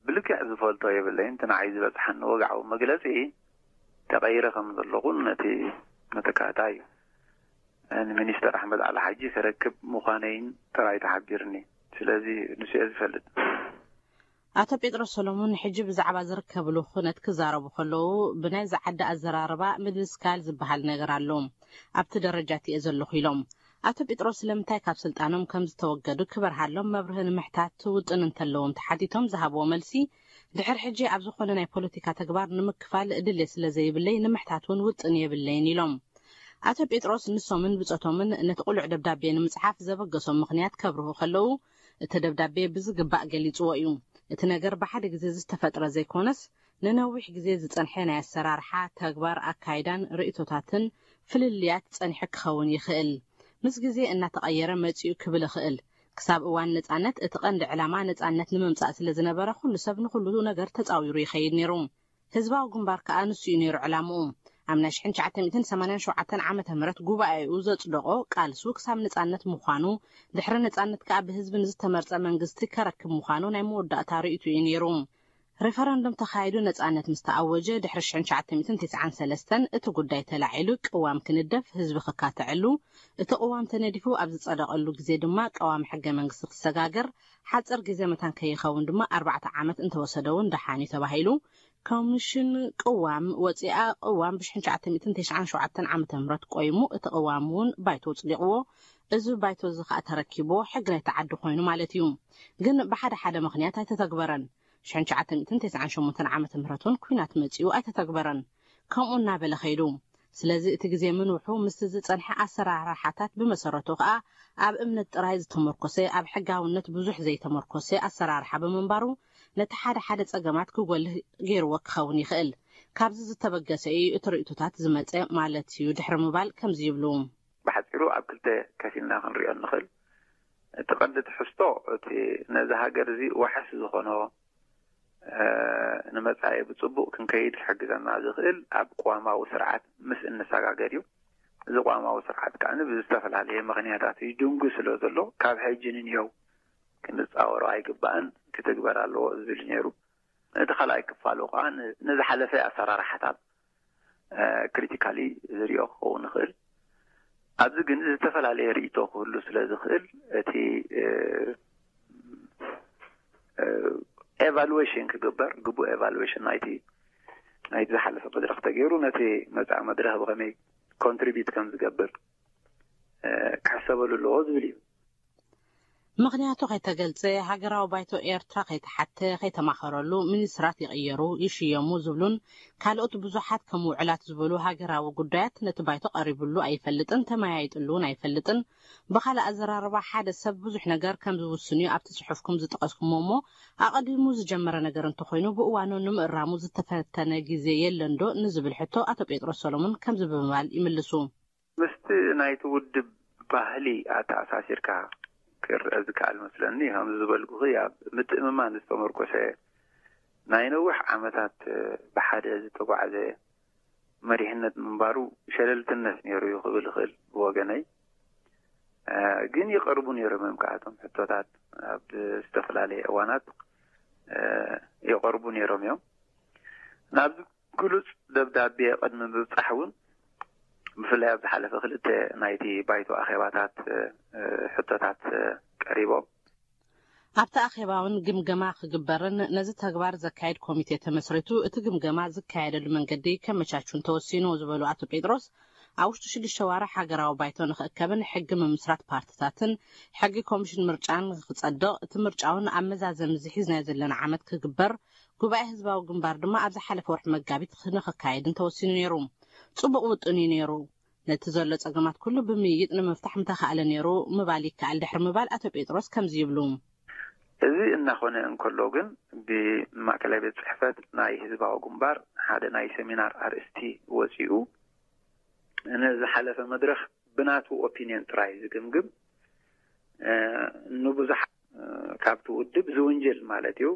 ብልክዕ ዝፈልጦ የብለይን እቲ ንዓይ ዝበጽሓኒ ወግዓዊ መግለጺ ተቀይረ ከም ዘለኹን ነቲ መተካእታይ ንሚኒስተር ኣሕመድ ዓሊ ሓጂ ከረክብ ምዃነይን ጥራይ ተሓቢርኒ ስለዚ ንሱ'የ ዝፈልጥ። ኣቶ ጴጥሮስ ሰሎሙን ሕጂ ብዛዕባ ዝርከብሉ ኩነት ክዛረቡ ከለዉ ብናይዛ ዓዲ ኣዘራርባ ምድንስካል ዝበሃል ነገር ኣሎ ኣብቲ ደረጃ እቲ'የ ዘለኹ ኢሎም። ኣቶ ጲጥሮስ ስለምንታይ ካብ ስልጣኖም ከም ዝተወገዱ ክበርሃሎም መብርሂ ንምሕታት ውጥን እንተለዎም ተሓቲቶም ዝሃብዎ መልሲ፣ ድሕር ሕጂ ኣብ ዝኾነ ናይ ፖለቲካ ተግባር ንምክፋል ድሌት ስለዘይብለይ ንምሕታት እውን ውጥን የብለይን ኢሎም። ኣቶ ጴጥሮስ ንሶምን ብጾቶምን ነቲ ቅሉዕ ደብዳቤ ንምጽሓፍ ዘበገሶም ምኽንያት ከብርሁ ከለዉ፣ እቲ ደብዳቤ ብዝግባእ ገሊጽዎ እዩ። እቲ ነገር ብሓደ ግዜ ዝተፈጥረ ዘይኮነስ ንነዊሕ ግዜ ዝጸንሐ ናይ ኣሰራርሓ፣ ተግባር፣ ኣካይዳን ርእይቶታትን ፍልልያት ጸኒሑ ክኸውን ይኽእል። ምስ ግዜ እናተቐየረ መጺኡ ክብል እኽእል። ክሳብ እዋን ነጻነት እቲ ቀንዲ ዕላማ ነጻነት ንምምጻእ ስለ ዝነበረ ኩሉ ሰብ ንኹሉ ነገር ተጻዊሩ ይኸይድ ነይሩ። ህዝባዊ ግንባር ከኣ ንሱ'ዩ ነይሩ ዕላምኡ። ኣብ ናይ ሽሕን ትሽዓተ ሚእትን ሰማንያን ሸውዓተን ዓመተ ምህረት ጉባኤኡ ዘጽደቖ ቃልሱ ክሳብ ነጻነት ምዃኑ፣ ድሕሪ ነጻነት ከኣ ብህዝቢ ንዝተመርጸ መንግስቲ ከረክብ ምዃኑ ናይ መወዳእታ ርእይቶ'ዩ ነይሩ። ሪፈረንዱም ተኻይዱ ነጻነት ምስ ተኣወጀ ድሕሪ ሽሕን ትሽዓተ ሚእትን ቴስዓን ሰለስተን እቲ ጉዳይ ተላዒሉ ቅዋም ክንደፍ ህዝቢ ክካተዐሉ እቲ ቅዋም ተነዲፉ ኣብ ዝጸደቐሉ ግዜ ድማ ቀዋሚ ሕገ መንግስቲ ክሰጋገር ሓጽር ግዜ መታን ከይኸውን ድማ ኣርባዕተ ዓመት እንተወሰደውን ደሓን እዩ ተባሂሉ ኮሚሽን ቅዋም ወጺኣ ቅዋም ብሽሕን ትሽዓተ ሚእትን ቴስዓን ሸውዓተን ዓመተ ምህረት ቆይሙ እቲ ቅዋምውን ባይቶ ጽዲቕዎ እዚ ባይቶ እዚ ከኣ ተረኪቡ ሕግ ናይቲ ዓዲ ኮይኑ ማለት እዩ። ግን ብሓደ ሓደ ምኽንያት ኣይተተግበረን። ሽሕን ትሽዓተ ሚእትን ተስዓን ሸሞንተን ዓመተ ምህረት እውን ኩናት መጺኡ ኣይተተግበረን። ከምኡ እናበለ ከይዱ። ስለዚ እቲ ግዜ ምንውሑ ምስቲ ዝጸንሐ ኣሰራርሓታት ብመሰረቱ ከኣ ኣብ እምነት ጥራይ ዝተመርኮሰ ኣብ ሕጋውነት ብዙሕ ዘይተመርኮሰ ኣሰራርሓ ብምንባሩ ነቲ ሓደ ሓደ ጸገማት ክጎልህ ገይርዎ ክኸውን ይኽእል። ካብዚ ዝተበገሰ እዩ እቲ ርእይቶታት ዝመጸ ማለት እዩ ድሕሪ ምባል ከምዚ ይብሉ። ብሓጺሩ ኣብ ክልተ ከፊልና ክንሪኦ እንኽል እቲ ቀንዲ ትሕዝቶ እቲ ነዚ ሃገር እዚ ዋሕስ ዝኾኖ ንመጻኢ ብጽቡቕ ክንከይድ ክሕግዘና ዝኽእል ኣብ ቅዋማዊ ስርዓት ምስ እንሰጋገር እዩ። እዚ ቅዋማዊ ስርዓት ከኣ ብዝተፈላለየ ምኽንያታት ይድንጉ ስለ ዘሎ ካብ ሕጂ ንንየው ክንጻወሮ ኣይግባእን ክትግበር ኣለዎ ዝብል እዩ ነይሩ። እቲ ካልኣይ ክፋሉ ከኣ ንዝሓለፈ ኣሰራርሓታት ክሪቲካሊ ዝሪኦ ክኸውን ይኽእል ኣብዚ ግን ዝተፈላለየ ርእቶ ክህሉ ስለ ዝኽእል እቲ ኤቫሉዌሽን ክግበር ግቡእ ኤቫሉዌሽን ናይቲ ናይቲ ዝሓለፈ መድረኽ ተገይሩ ነቲ መፃኢ መድረኽ ብኸመይ ኮንትሪቢዩት ከም ዝገብር ክሕሰበሉ ኣለዎ ዝብል እዩ ምኽንያቱ ከይተገልጸ፣ ሃገራዊ ባይቶ ኤርትራ ከይተሓተ፣ ከይተማኸረሉ፣ ሚኒስትራት ይቕየሩ፣ ይሽየሙ ዝብሉን ካልኦት ብዙሓት ከም ውዑላት ዝበሉ ሃገራዊ ጉዳያት ነቲ ባይቶ ቀሪብሉ ኣይፈልጥን፣ ተመያይጥሉ'ውን ኣይፈልጥን። ብኻልእ ኣዘራርባ ሓደ ሰብ ብዙሕ ነገር ከም ዝውስን'ዩ ኣብቲ ጽሑፍኩም ዝጠቐስኩሞ እሞ ኣቐዲሙ ዝጀመረ ነገር እንተኾይኑ ብእዋኑ ንምእራሙ ዝተፈተነ ግዜ የለንዶ ንዝብል ሕቶ ኣቶ ጴጥሮስ ሰሎሙን ከምዚ ብምባል ይምልሱ። ምስቲ ናይቲ ውድብ ባህሊ ኣተኣሳሲርካ ክርኣ ዝከኣል መስለኒ። ከምዚ ዝበልኩኺ ኣብ ምትእምማን ዝተመርኮሰ ናይ ነዊሕ ዓመታት ብሓደ ዝተጓዕዘ መሪሕነት ምንባሩ ሸለልትነት ነይሩ እዩ ክብል እኽእል ብወገነይ። ግን ይቐርቡ ነይሮም እዮም ከኣ እቶም ሕቶታት ኣብ ዝተፈላለየ እዋናት ይቐርቡ ነይሮም እዮም። ናብዚ ግሉጽ ደብዳቤ ቅድሚ ምብጻሕ እውን ብፍላይ ኣብ ዝሓለፈ ክልተ ናይቲ ባይቶ ኣኼባታት ሕቶታት ቀሪቦም። ኣብቲ ኣኼባ እውን ግምገማ ክግበርን ነዚ ተግባር ዘካይድ ኮሚቴ ተመስሪቱ እቲ ግምገማ ዝካየደሉ መንገዲ ከመቻቹን ተወሲኑ ዝበሉ ኣቶ ጴጥሮስ፣ ኣብ ውሽጢ ሽዱሽተ ኣዋርሕ ሃገራዊ ባይቶ ንክእከብን ሕጊ ምምስራት ፓርትታትን ሕጊ ኮሚሽን ምርጫን ንክጸድቕ እቲ ምርጫ እውን ኣብ መዛዘሚ እዚ ሒዝናዮ ዘለና ዓመት ክግበር ጉባኤ ህዝባዊ ግንባር ድማ ኣብ ዝሓለፈ ወርሒ መጋቢት ንክካየድን ተወሲኑ ነይሩ። ጽቡቕ ውጥን እዩ ነይሩ። ነቲ ዘሎ ጸገማት ኩሉ ብምይይጥ ንምፍታሕ ምተኻእለ ነይሩ ምባል ይከኣል ድሕሪ ምባል ኣቶ ጴጥሮስ ከምዚ ይብሉ። እዚ እናኾነ እንከሎ ግን ብማእከላይ ቤት ጽሕፈት ናይ ህዝባዊ ግንባር ሓደ ናይ ሰሚናር ኣርእስቲ ወጺኡ ንዝሓለፈ መድረኽ ብናቱ ኦፒንዮን ጥራይ ዝግምግም ንብዙሓት ካብቲ ውድብ ዝውንጅል ማለት እዩ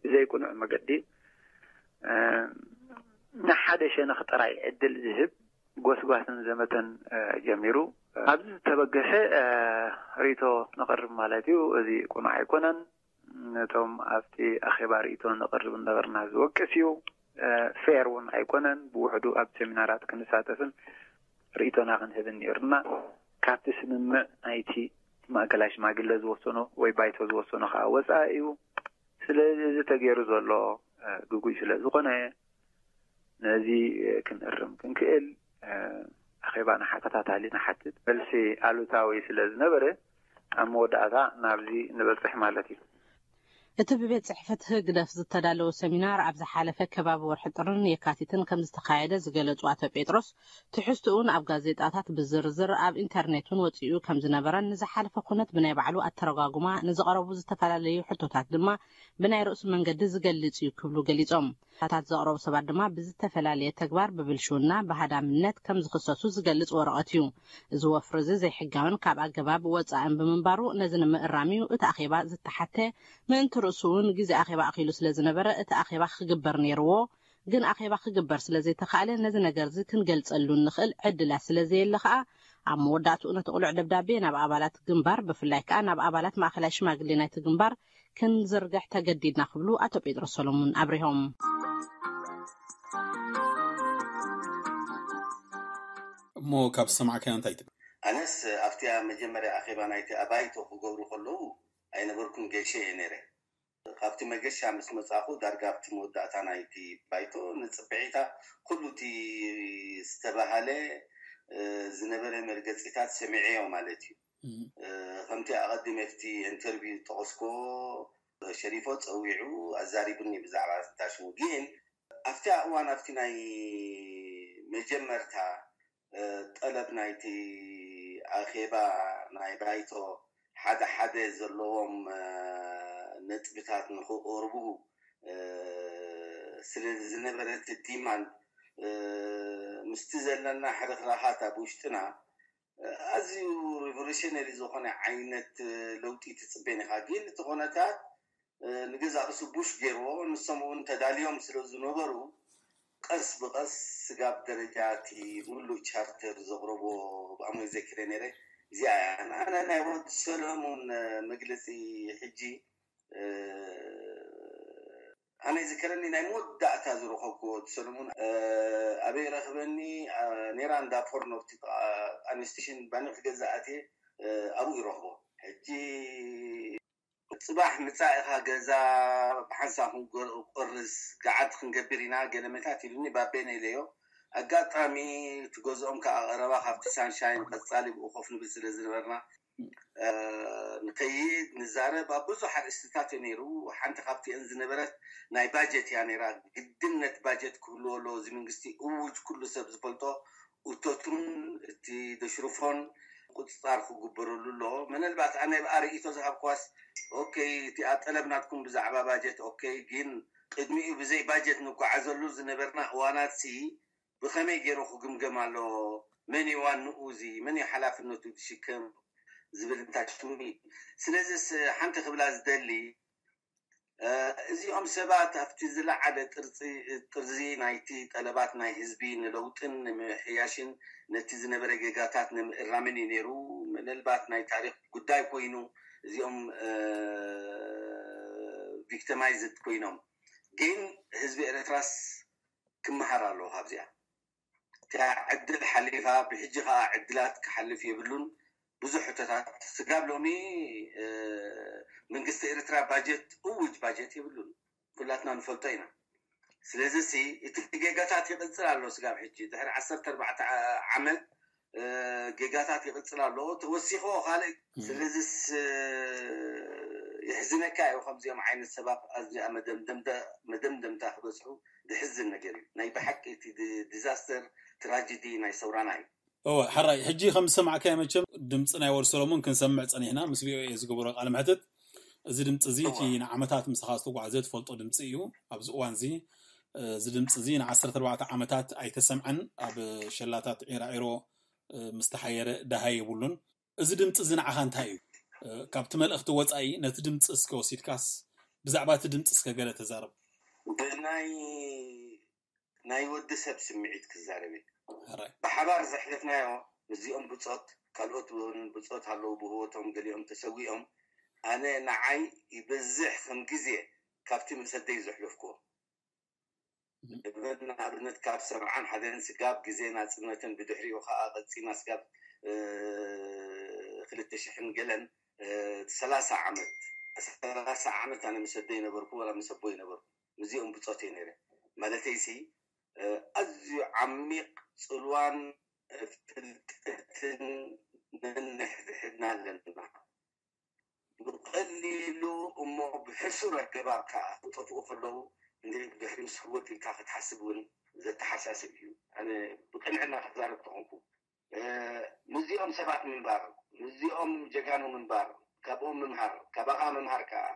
ብዘይቅኑዕ መገዲ ንሓደ ሸነኽ ጥራይ ዕድል ዝህብ ጎስጓስን ዘመተን ጀሚሩ ኣብዚ ዝተበገሰ ርእቶ ነቕርብ ማለት እዩ እዚ ቁኑዕ ኣይኮነን ነቶም ኣብቲ ኣኼባ ርእይቶ ነቕርብ እንነበርና ዝወቅስ እዩ። ፌር እውን ኣይኮነን። ብውሕዱ ኣብ ሴሚናራት ክንሳተፍን ርእይቶና ክንህብን ነይሩና። ካብቲ ስምምዕ ናይቲ ማእከላይ ሽማግለ ዝወሰኖ ወይ ባይቶ ዝወሰኖ ከኣ ወጻኢ እዩ። ስለዚ እዚ ተገይሩ ዘሎ ግጉይ ስለዝኾነ ነዚ ክንእርም ክንክእል ኣኼባ ንሓተታታሊ ንሓትት። መልሲ ኣሉታዊ ስለ ዝነበረ ኣብ መወዳእታ ናብዚ ንበጽሕ ማለት እዩ። እቲ ብቤት ጽሕፍት ህግደፍ ዝተዳለወ ሰሚናር ኣብ ዝሓለፈ ከባቢ ወርሒ ጥርን የካቲትን ከም ዝተኻየደ ዝገለጹ ኣቶ ጴጥሮስ፣ ትሕዝትኡን ኣብ ጋዜጣታት ብዝርዝር ኣብ ኢንተርኔት'ውን ወጺኡ ከም ዝነበረን ንዝሓለፈ ኩነት ብናይ ባዕሉ ኣተረጓጉማ ንዝቐረቡ ዝተፈላለዩ ሕቶታት ድማ ብናይ ርእሱ መንገዲ ዝገልፅ እዩ ክብሉ ገሊፆም። ሕቶታት ዘቕረቡ ሰባት ድማ ብዝተፈላለየ ተግባር ብብልሽውና፣ ብሃዳምነት፣ ከም ዝኽሰሱ ዝገልፅ ወረቐት እዩ። እዚ ወፍሪ እዚ ዘይሕጋዊን ካብ ኣገባብ ወፃእን ብምንባሩ ነዚ ንምእራም እዩ እቲ ኣኼባ ዝተሓተ። ምእንቲ ርእሱ እውን ግዜ ኣኼባ ኣኺሉ ስለ ዝነበረ እቲ ኣኼባ ክግበር ነይርዎ። ግን ኣኼባ ክግበር ስለ ዘይተኻእለ ነዚ ነገር እዚ ክንገልፀሉ እንኽእል ዕድላት ስለ ዘየለ ከዓ ኣብ መወዳእትኡ ነቲ ቅሉዕ ደብዳቤ ናብ ኣባላት ግንባር ብፍላይ ከዓ ናብ ኣባላት ማእኸላይ ሽማግሌ ናይቲ ግንባር ክንዝርግሕ ተገዲድና ክብሉ ኣቶ ጴጥሮስ ሰሎሙን ኣብሪሆም። እሞ ካብ ዝሰማዕካያ እንታይ ትብል? ኣነስ ኣብቲ ኣብ መጀመርያ ኣኼባ ናይቲ ኣባይቶ ክገብሩ ከለዉ ኣይነበርኩን ገይሸ እየ ነይረ። ካብቲ መገሻ ምስ መጻእኩ ዳርጋ ኣብቲ መወዳእታ ናይቲ ባይቶ ንጽብሒታ ኩሉ እቲ ዝተባህለ ዝነበረ መርገጺታት ሰሚዐዮ ማለት እዩ። ከምቲ ኣቐዲመ ኣብቲ ኢንተርቪው ዝጠቐስኩዎ፣ ሸሪፎ ጸዊዑ ኣዛሪቡኒ ብዛዕባ ዳሽሙ። ግን ኣብቲ ኣእዋን ኣብቲ ናይ መጀመርታ ጠለብ ናይቲ ኣኼባ ናይ ባይቶ ሓደ ሓደ ዘለዎም ነጥብታት ንኽቐርቡ ስለ ዝነበረ እቲ ዲማንድ ምስቲ ዘለና ሕርኽራኻት ኣብ ውሽጥና ኣዝዩ ሪቮሉሽነሪ ዝኾነ ዓይነት ለውጢ ትጽቤን ኢኻ ግን እቲ ኮነታት ንገዛእ ርእሱ ቡሽ ጌርዎ ንሶም እውን ተዳልዮም ስለ ዝነበሩ ቐስ ብቐስ ስጋብ ደረጃ እቲ ምሉእ ቻርተር ዘቕረቦ ብኣሞይ ዘኪረ ኔረ እዚኣ እያ ኣነ ናይ ወዲ ሰለሙን መግለጺ ሕጂ ኣነ ይዝከረኒ ናይ መወዳእታ ዝረኸብክዎ ወዲ ሰለሙን ኣበይ ረኽበኒ ኔራ እንዳ ፖርኖ ኣብቲ ጥቓ ጣንዮ ስትሽን ባኒ ክገዝእ ኣትየ ኣብኡ ይረኽቦ ሕጂ ጽባሕ ምጻእ ኢኻ ገዛ ብሓንሳብ ክንቆርስ ገዓት ክንገብር ኢና ገለመታት ኢሉኒ ባቤነ ኢለዮ ኣጋጣሚ እቲ ገዝኦም ክኣ ቀረባ ካብቲ ሳንሻይን ቀጻሊ ብኡ ኮፍ ንብል ስለ ዝነበርና ንከይድ ንዛረብ ኣብ ብዙሕ ኣርእስትታት እዩ ነይሩ። ሓንቲ ካብቲኤን ዝነበረት ናይ ባጀት እያ ነይራ። ግድነት ባጀት ክህልዎ ኣለዎ እዚ ምንግስቲ እዉጅ ኩሉ ሰብ ዝፈልጦ እቶቱን እቲ ደሽርፎን ቁፅፃር ክግበረሉ ኣለዎ። ምነልባት ኣነ ብኣ ርእይቶ ዝሃብክዋስ ኦከይ እቲኣ ጠለብ ናትኩም ብዛዕባ ባጀት ኦከይ ግን ቅድሚኡ ብዘይ ባጀት ንጓዓዘሉ ዝነበርና እዋናት ሲ ብከመይ ጌሩ ክግምገም ኣለዎ መን እዩ ዋንኡ እዚ መን እዩ ሓላፍነቱ ዝሽከም ዝብል እንታሽሙኒ ስለዚስ ሓንቲ ክብላ ዝደሊ እዚኦም ሰባት ኣብቲ ዝለዓለ ጥርጺ ጥርዚ ናይቲ ጠለባት ናይ ህዝቢ ንለውጥን ንምምሕያሽን ነቲ ዝነበረ ጌጋታት ንምእራምን እዩ ኔሩ ምንልባት ናይ ታሪኽ ጉዳይ ኮይኑ እዚኦም ቪክተማይዝድ ኮይኖም ግን ህዝቢ ኤረትራስ ክመሃር ኣለዎ ካብዚኣ እቲኣ ዕድል ሓሊፋ ብሕጂ ከኣ ዕድላት ክሓልፍ የብሉን ብዙሕ ሕቶታት ስጋብ ሎሚ መንግስቲ ኤርትራ ባጀት እዉጅ ባጀት የብሉን ኩላትና ንፈልጦ ኢና ስለዚሲ እቲ ጌጋታት ይቅጽል ኣሎ ስጋብ ሕጂ ድሕሪ ዓሰርተ ኣርባዕተ ዓመት ጌጋታት ይቕጽል ኣሎ ተወሲኾ ካልእ ስለዚስ የሕዝነካ እዩ ከምዚኦም ዓይነት ሰባት ኣብዚኣ መደምደምታ ክበጽሑ ዘሕዝን ነገር እዩ ናይ ብሓቂ እቲ ዲዛስተር ትራጀዲ ናይ ሰውራና እዩ እወ ሐራይ ሕጂ ከም ዝሰማዕካዮ መቸም ድምጺ ናይ ወድ ሰሎሞን ክንሰምዕ ጸኒሕና ምስ ቪኦኤ ዝገበሮ ቃለ መሕትት እዚ ድምጺ እዚ እቲ ንዓመታት ምሳኻ ዝተጓዕዘ ትፈልጦ ድምጺ እዩ። ኣብዚ እዋን እዚ እዚ ድምጺ እዚ ንዓሰርተ ኣርባዕተ ዓመታት ኣይተሰምዐን። ኣብ ሸላታት ዒራዒሮ ምስ ተሓየረ ደሃይ የብሉን። እዚ ድምጺ እዚ ንዓኻ እንታይ እዩ? ካብቲ መልእኽቲ ወጻኢ ነቲ ድምጺ እስከ ወሲድካስ ብዛዕባ እቲ ድምጺ እስከ ገለ ተዛረብ። ብናይ ናይ ወዲ ሰብ ስምዒት ክዛረብ ኢዩ። ሕራይ። ብሓባር ዘሕለፍናዮ ምስዚኦም ብጾት ካልኦት ውን ብጾት ኣለዉ ብህወቶም ገሊኦም ተሰዊኦም ኣነ ንዓይ ይበዝሕ ከም ግዜ ካብቲ ምስ ኣደይ ዘሕለፍኩዎ እብን ንኣብነት ካብ ሰብዓን ሓደን ስጋብ ግዜ ናጽነትን ብድሕሪኡ ከኣ ቀጺና ስጋብ ክልተ ሽሕን ገለን ሰላሳ ዓመት ሰላሳ ዓመት ኣነ ምስ ኣደይ ነበርኩ ወላ ምስ ኣቦይ ነበርኩ። ምስዚኦም ብጾት እየ ነይረ። ማለተይሲ ኣዝዩ ዓሚቕ ጽልዋን ፍልጠትን ነንሕድሕድና ኣለና። ብቐሊሉ እሞ ብሕሱር ኣገባብ ከኣ ክጠፍኡ ከለዉ እንድዒ ብድሕሪ ምስ ህወት ኢልካ ክትሓስብ እውን ዘተሓሳስብ እዩ። ኣነ ብቅንዕና ክዛረብ ተኾንኩ ምስዚኦም ሰባት ምንባር ምስዚኦም ጀጋኑ ምንባር ካብኦም ምምሃር ካባኻ ምምሃር ከኣ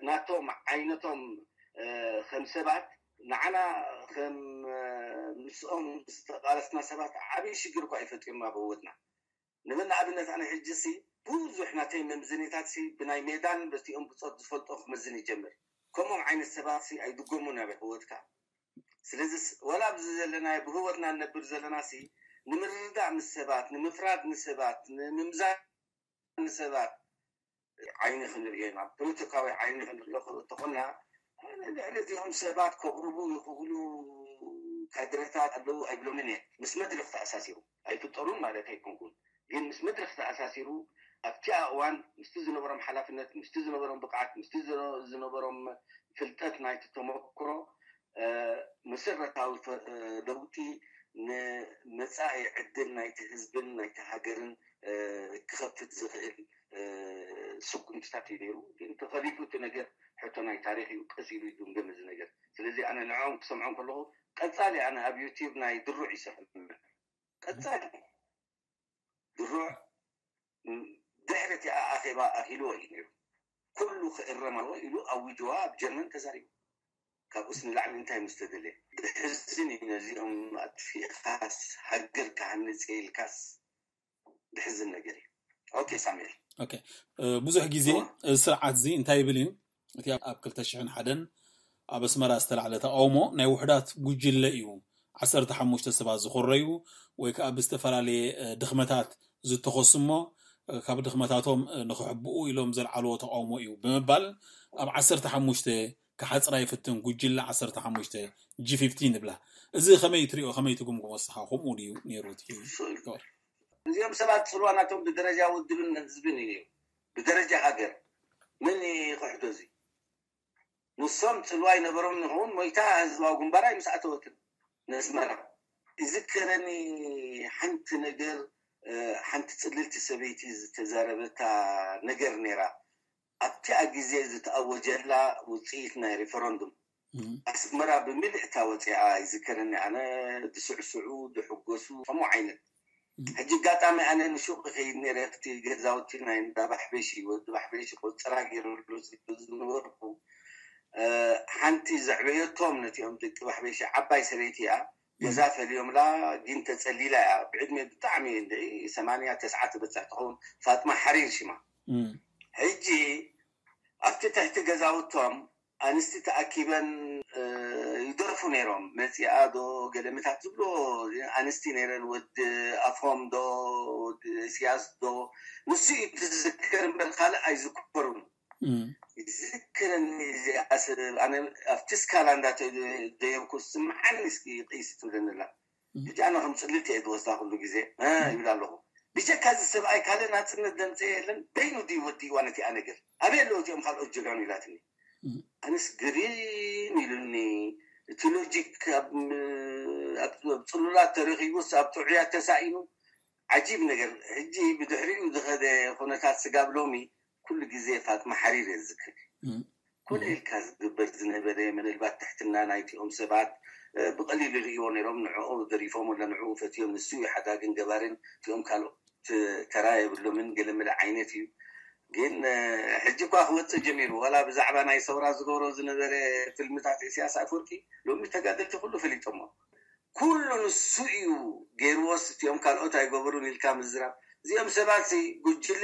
ናቶም ዓይነቶም ከም ሰባት ንዓና ከም ምስኦም ዝተቓለስና ሰባት ዓቢ ሽግር እኳ እዩ ፈጢሩና ኣብ ህወትና ንበል ንኣብነት ኣነ ሕጂ ሲ ቡዙሕ ናተይ መምዝኒታት ሲ ብናይ ሜዳን በቲኦም ብጾት ዝፈልጦ ክመዝን ይጀምር ከምኦም ዓይነት ሰባት ሲ ኣይድጎሙን ኣብ ሕወትካ ስለዚ ዋላ ኣብዚ ዘለናዮ ብህወትና ንነብር ዘለና ሲ ንምርድዳእ ምስ ሰባት ንምፍራድ ንሰባት ንምምዛን ንሰባት ዓይኒ ክንርእየና ፖለቲካዊ ዓይኒ ክንርኢ ክተኾና ልዕሊ እዚኦም ሰባት ከቕርቡ ይኽእሉ ካድረታት ኣለዉ ኣይብሎምን እየ ምስ መድረኽ ተኣሳሲሩ ኣይፍጠሩን ማለት ኣይኮንኩን ግን ምስ መድረኽ ተኣሳሲሩ ኣብቲኣ እዋን ምስቲ ዝነበሮም ሓላፍነት ምስቲ ዝነበሮም ብቕዓት ምስቲ ዝነበሮም ፍልጠት ናይቲ ተመክሮ መሰረታዊ ለውጢ ንመጻኢ ዕድል ናይቲ ህዝብን ናይቲ ሃገርን ክኸፍት ዝኽእል ስጉምትታት እዩ ነይሩ። ግን ተኸሊፉ እቲ ነገር ሕቶ ናይ ታሪኽ እዩ ቀስ ኢሉ ይግምገም እዚ ነገር። ስለዚ ኣነ ንዕኦም ክሰምዖም ከለኹ ቀጻሊ ኣነ ኣብ ዩቲብ ናይ ድሩዕ ይሰምዕ ቀጻሊ ድሩዕ ድሕሪ እቲ ኣኼባ ኣኺልዎ እዩ ነይሩ። ኩሉ ክእረም ኣለዎ ኢሉ ኣዊጅዋ ኣብ ጀርመን ተዛሪቡ። ካብኡስ ንላዕሊ እንታይ ምስ ተደልየ። ዘሕዝን እዩ ነዚኦም ኣጥፊእኻስ ሃገር ክሃንጽ እየ ኢልካስ ዘሕዝን ነገር እዩ። ኦኬ ሳሙኤል። ኦኬ ብዙሕ ግዜ እዚ ስርዓት እዚ እንታይ ይብል እዩ እቲ ኣብ ክልተ ሽሕን ሓደን ኣብ ኣስመራ ዝተላዕለ ተቓውሞ ናይ ውሑዳት ጉጅለ እዩ፣ ዓሰርተ ሓሙሽተ ሰባት ዝኾረዩ ወይ ከኣ ብዝተፈላለየ ድኽመታት ዝተኸሱ እሞ ካብ ድኽመታቶም ንኽሕብኡ ኢሎም ዘልዓልዎ ተቓውሞ እዩ ብምባል ኣብ ዓሰርተ ሓሙሽተ ክሓጽራ ይፍትን ጉጅለ ዓሰርተ ሓሙሽተ ጂፊፍቲን ዝብላ እዚ ከመይ ትሪኦ ከመይ ትግምግሞ ንስኻ ከምኡ ድዩ ነይሩ እቲ እዚኦም ሰባት ጽልዋ ናቶም ብደረጃ ውድብን ህዝብን እዩ ነይሩ ብደረጃ ሃገር መን ይኽሕዶ እዚ ንሶም ጽልዋ ይነበሮም ንክውን ሞይታ ህዝባዊ ግንባር ኣይ ምስኣተወትን ነስመራ። ይዝከረኒ ሓንቲ ነገር ሓንቲ ጽልልቲ ሰበይቲ ዝተዛረበታ ነገር ኔራ ኣብቲኣ ግዜ ዝተኣወጀላ ውጽኢት ናይ ሪፈረንዱም ኣስመራ ብምልእ እታ ወጺኣ ይዝከረኒ ኣነ ድስዕስዑ ድሕጎሱ ከምኡ ዓይነት ሕጂ ኣጋጣሚ ኣነ ንሹቅ ይከይድ ነይረ ኣብቲ ገዛውቲ ናይ እንዳ ባሕበሺ ወዲ ባሕበሺ ቆጽራ ገይረሉ ስለ ዝነበርኩ ሓንቲ ዘዕበየቶም ነቲኦም ደቂ ባሕበሺ ዓባይ ሰበይቲ እያ ገዛ ፈልዮምላ ግን ተጸሊላ እያ ብዕድሜ ብጣዕሚ እንድዒ ሰማንያ ተስዓ ትበጽሕ ትከውን ፋጥማ ሓሪር ሽማ ሕጂ ኣብቲ ትሕቲ ገዛውቶም ኣንስቲ ተኣኪበን ይደርፉ ነይሮም መጺኣ ዶ ገለ ምታት ዝብሎ ኣንስቲ ነይረን ወዲ ኣፎም ዶ ወዲ እስያስ ዶ ንሱ እዩ ትዝከር እምበር ካልእ ኣይዝከሩን ይዝክረኒ እዚኣ ሰብ ኣነ ኣብቲ ስካላ እንዳ ደየብኩ ስምዓኒ እስኪ ቅይስ ትብለኒ ኣላ ብጣዕሚ ከም ጽልእት እየ ዝወስዳ ኩሉ ግዜ እህ ይብል ኣለኹ ብጀካ እዚ ሰብኣይ ካልእ ናጽነት ዘምጸኤ የለን በይኑ ድዩ ወዲእዋ ነቲኣ ነገር ኣበይ ኣለዉ እቲኦም ካልኦት ጀጋኑ ኢላትኒ ኣነስ ግርም ኢሉኒ እቲ ሎጂክ ኣብ ጽሉላት ተረኺቡስ ኣብ ጥዑያት ተሳኢኑ ዓጂብ ነገር ሕጂ ብድሕሪኡ ዝኸደ ኩነታት ስጋብ ሎሚ ኩሉ ግዜ ፋጥማ ሓሪር እየ ዝዝክር ኮነ ኢልካ ዝግበር ዝነበረ ምንልባት ትሕትና ናይቲ ኦም ሰባት ብቀሊሉ ይርእይዎ ነሮም ንዕኦ ገሪፎም ወላ ንዕኡ ፈትዮም ንሱ እዩ ሓዳግን ገባርን እቲኦም ካልኦት ተራ የብሎምን ገለመለ ዓይነት እዩ ግን ሕጂ እኳ ክወጽእ ጀሚሩ ወላ ብዛዕባ ናይ ሰውራ ዝገብሮ ዝነበረ ፍልምታት እስያስ ኣፍወርቂ ሎሚ ተጋደልቲ ኩሉ ፈሊጦሞ። ኩሉ ንሱ ኢዩ ጌርዎስ እቲኦም ካልኦት ኣይገበሩን ኢልካ ምዝራብ እዚኦም ሰባት ሲ ጉጅለ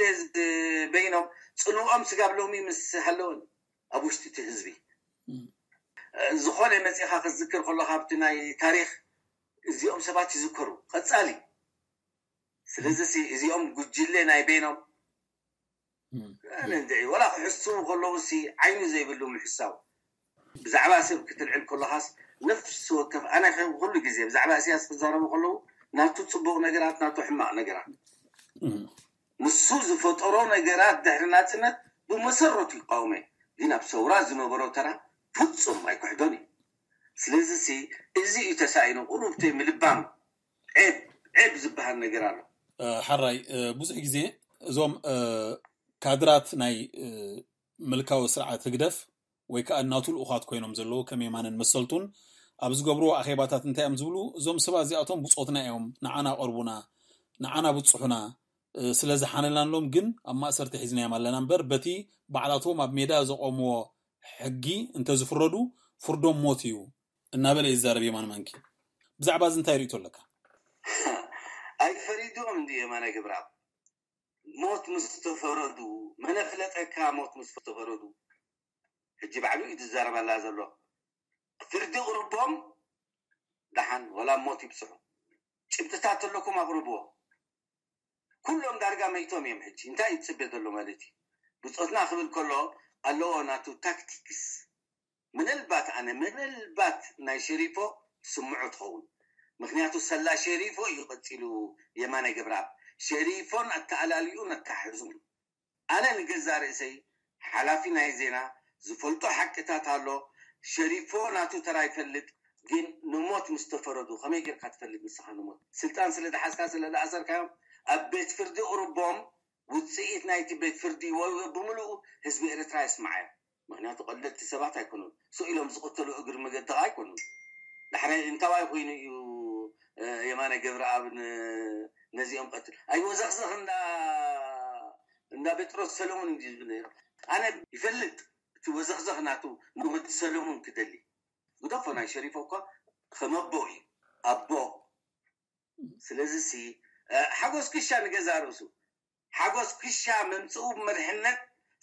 በይኖም ጽልወኦም ስጋብ ሎሚ ምስ ሃለወን ኢዩ ኣብ ውሽጢ እቲ ህዝቢ ዝኮነ መጺካ ክትዝክር ከሎካ ኣብቲ ናይ ታሪክ እዚኦም ሰባት ይዝከሩ ቀጻሊ ስለዚ ሲ እዚኦም ጉጅለ ናይ በይኖም ኣነ እንድዒ ወላ ክሕስዉ ከለዉሲ ዓይኒ ዘይብሉ ምሕሳው ብዛዕባ ሰብ ክትልዕል ከለኻስ ነፍሲ ወከፍ ኣነኸ ኩሉ ግዜ ብዛዕባ ኢሰያስ ክዛረቡ ከለዉ ናቱ ጽቡቕ ነገራት ናቱ ሕማቕ ነገራት ንሱ ዝፈጠሮ ነገራት ድሕሪ ናጽነት ብመሰረቱ ይቃወሞየ ግን ኣብ ሰውራ ዝነበሮ ተራ ፍጹም ኣይክሕዶን እየ ስለዚሲ እዚ እዩ ተሳኢኑ ቁሩብተይ ምልባም ዔብ ዔብ ዝበሃል ነገር ኣሎ። ሐራይ ብዙሕ ግዜ እዞም ካድራት ናይ ምልካዊ ስርዓት ህግደፍ ወይ ከኣ እናቱ ልኡኻት ኮይኖም ዘለዉ ከም የማነን መሰልቱን ኣብ ዝገብርዎ ኣኼባታት እንታይ እዮም ዝብሉ እዞም ሰባት እዚኣቶም ብጾትና እዮም ንዓና ቀርቡና ንዓና ብጽሑና ስለ ዝሓነላንሎም ግን ኣብ ማእሰርቲ ሒዝናዮም ኣለና እምበር በቲ ባዕላቶም ኣብ ሜዳ ዘቆምዎ ሕጊ እንተዝፍረዱ ፍርዶም ሞት እዩ እናበለ ይዛረብ የማነ ማንኪ። ብዛዕባ እዚ እንታይ ርእይቶ ኣለካ? ኣይ ፈሪዶም እንድዩ የማነ ገብረኣብ ሞት ምስ ተፈረዱ መን ኣፍለጠካ ሞት ምስ ተፈረዱ ሕጂ ባዕሉ እዩ ዝዛረበላ ዘሎ ፍርዲ እቕርቦም ደሓን ወላ ሞት ይብጽሑ ጭብጥታት ተለኩም ኣቕርብዎ ኩሎም ዳርጋ መይቶም እዮም ሕጂ እንታይ እዩ ዝጽበ ዘሎ ማለት እዩ ብጾትና ክብል ከሎ ኣለዎ ናቱ ታክቲክስ ምንልባት ኣነ ምንልባት ናይ ሼሪፎ ትስምዖ ትኸውን ምኽንያቱ ሰላ ሼሪፎ እዩ ቀጺሉ የማነ ገብረኣብ ሼሪፎን ኣተኣላልዩኡን ኣተሓሕዝኡን ኣነ ንገዛእ ርእሰይ ሓላፊ ናይ ዜና ዝፈልጦ ሓቅታት ኣሎ ሼሪፎ ናቱ ተራ ይፈልጥ ግን ንሞት ምስ ተፈረዱ ከመይ ጌርካ ትፈልጥ ንስኻ ንሞት ስልጣን ስለ ዝሓዝካ ስለ ዝኣሰርካዮም ኣብ ቤት ፍርዲ እቕርቦም ውጽኢት ናይቲ ቤት ፍርዲ ብምልኡ ህዝቢ ኤርትራ የስምዓዮ። ምክንያቱ ቀለልቲ ሰባት ኣይኮኑን ሱእ ኢሎም ዝቅተሉ እግሪ መገዲ ከኣ ኣይኮኑን ዳሕራይ እንታዋይ ኮይኑ እዩ የማነ ገብረኣብ ነዚኦም ቀትሉ ኣይወዘክዘክ እንዳ እንዳ በጥሮስ ሰለሙን እንድዩ ዝብል ነይሩ ኣነ ይፈልጥ እቲ ወዘክዘክ ናቱ ንወዲ ሰለሙን ክደሊ ግደፎ ናይ ሸሪፎ እኳ ከመቦ እዩ ኣቦ ስለዚ ሲ ሓጎስ ክሻ ንገዛእ ርእሱ ሓጎስ ክሻ ምምጽኡ ብመሪሕነት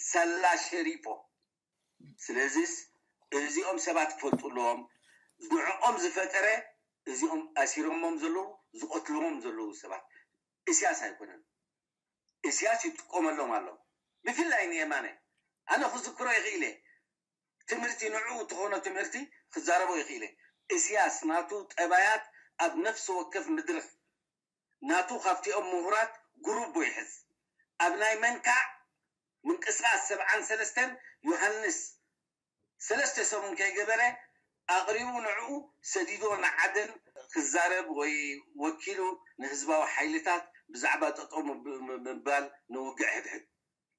ሳላ ሸሪፖ ስለዚስ እዚኦም ሰባት ክፈልጡ ኣለዎም ንዕኦም ዝፈጠረ እዚኦም ኣሲሮሞም ዘለዉ ዝቀትልዎም ዘለዉ ሰባት እስያስ ኣይኮነን እስያስ ይጥቀመሎም ኣሎ ብፍላይ ንየማነ ኣነ ክዝክሮ ይክኢለ ትምህርቲ ንዕኡ እትኮኖ ትምህርቲ ክዛረቦ ይክኢለ እስያስ ናቱ ጠባያት ኣብ ነፍሲ ወከፍ ምድርኽ ናቱ ካብቲኦም ምሁራት ጉሩቦ ይሕዝ። ኣብ ናይ መንካዕ ምንቅስቃስ ሰብዓን ሰለስተን ዮሃንስ ሰለስተ ሰሙን ከይገበረ ኣቕሪቡ ንዕኡ ሰዲድዎ ንዓደን ክዛረብ ወይ ወኪሉ ንህዝባዊ ሓይልታት ብዛዕባ ጠጠው ምባል ንውግዕ ሕድሕድ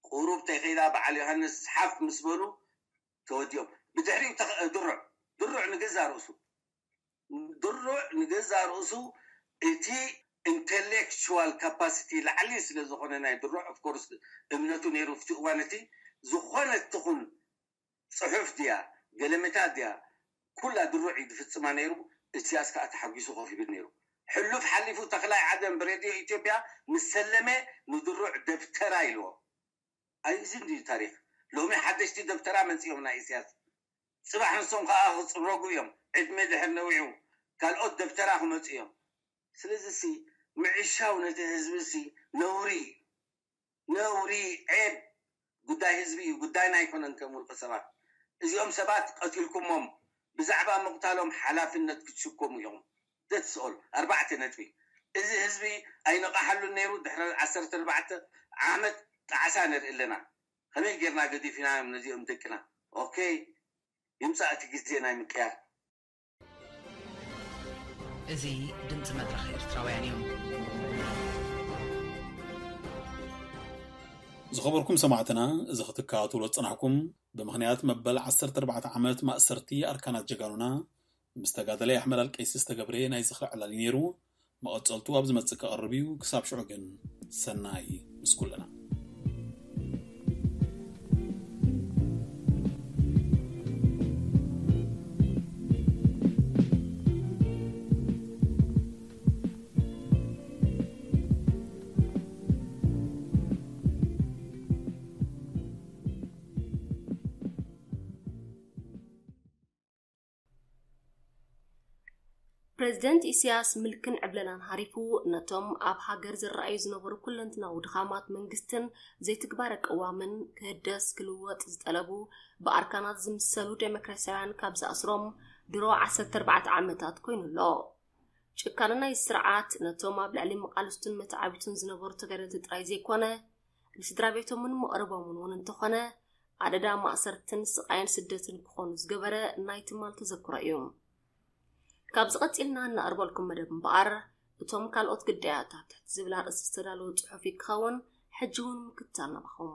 ቁሩብ ተይከይዳ በዓል ዮሃንስ ሓፍ ምስ በሉ ተወዲኦም ብድሕሪኡ ድሩዕ ድሩዕ ንገዛእ ርእሱ ድሩዕ ንገዛእ ርእሱ እቲ ኢንተሌክቹዋል ካፓሲቲ ላዕሊ ስለ ዝኾነ ናይ ድሩዕ ኦፍ ኮርስ እምነቱ ነይሩ ኣብቲ እዋን እቲ ዝኾነት ትኹን ጽሑፍ ድያ ገለመታት ድያ ኩላ ድሩዕ እዩ ዝፍጽማ ነይሩ እስያስ ከኣ ተሓጒሱ ኮፍ ይብል ነይሩ ሕሉፍ ሓሊፉ ተኽላይ ዓደን ብሬድዮ ኢትዮጵያ ምስ ሰለመ ንድሩዕ ደብተራ ኢልዎ ኣይ እዚ እንድዩ ታሪኽ ሎሚ ሓደሽቲ ደብተራ መጺኦም ናይ ኢስያስ ጽባሕ ንሶም ከኣ ክጽረጉ እዮም ዕድመ ድሕር ነዊዑ ካልኦት ደብተራ ክመጹ እዮም። ስለዚ ሲ ምዕሻው ነቲ ህዝቢ ሲ ነውሪ ኢዩ ነውሪ ዔብ ጉዳይ ህዝቢ ኢዩ ጉዳይና ኣይኮነን ከም ውልቀ ሰባት እዚኦም ሰባት ቀቲልኩሞም ብዛዕባ ምቅታሎም ሓላፍነት ክትሽከሙ ኢኹም ደትስ ኦል ኣርባዕተ ነጥቢ እዚ ህዝቢ ኣይነቃሓሉን ነይሩ ድሕሪ ዓሰርተ ኣርባዕተ ዓመት ጣዕሳ ንርኢ ኣለና ከመይ ገይርና ገዲፊናዮም ነዚኦም ደቅና ኦከይ ይምፃእ እቲ ግዜ ናይ ምቅያር። እዚ ድምጺ መድረኽ ኤርትራውያን እዩ። ዝኸበርኩም ሰማዕትና እዚ ክትከታተልዎ ዝጸናሕኩም ብምኽንያት መበል ዓሰርተ ኣርባዕተ ዓመት ማእሰርቲ ኣርካናት ጀጋኑና ምስ ተጋዳላይ ኣሕመድ ኣልቀይሲ ዝተገብረ ናይ ዝኽሪ ዕላል'ዩ ነይሩ። መቐጸልቱ ኣብ ዝመጽእ ክቐርብ እዩ። ክሳብ ሽዑ ግን ሰናይ ምስ ኩልና። ፕረዚደንት ኢሳያስ ምልክን ዕብለላን ሃሪፉ ነቶም ኣብ ሃገር ዝረኣዩ ዝነበሩ ኩለንትናዊ ድኻማት መንግስትን ዘይትግባረ ቅዋምን ክህደስ ክልወጥ ዝጠለቡ ብኣርካናት ዝምሰሉ ደሞክራስያውያን ካብ ዝኣስሮም ድሮ 14 ዓመታት ኮይኑ ኣሎ። ጭካነ ናይ ስርዓት ነቶም ኣብ ልዕሊ መቓልስቱን መተዓቢቱን ዝነበሩ ተጋደልቲ ጥራይ ዘይኮነ ንስድራ ቤቶምን መቕርቦምን እውን እንተኾነ ኣደዳ ማእሰርትን ስቓይን ስደትን ክኾኑ ዝገበረ ናይ ትማል ተዘክሮ እዩ። ካብዚ ቀጺልና እናቕርበልኩም መደብ እምበኣር እቶም ካልኦት ግዳያታት ዝብል ኣርእስቲ ዝተዳለወ ጽሑፍ እዩ ክኸውን ሕጂ እውን ምክታል ናባኹም።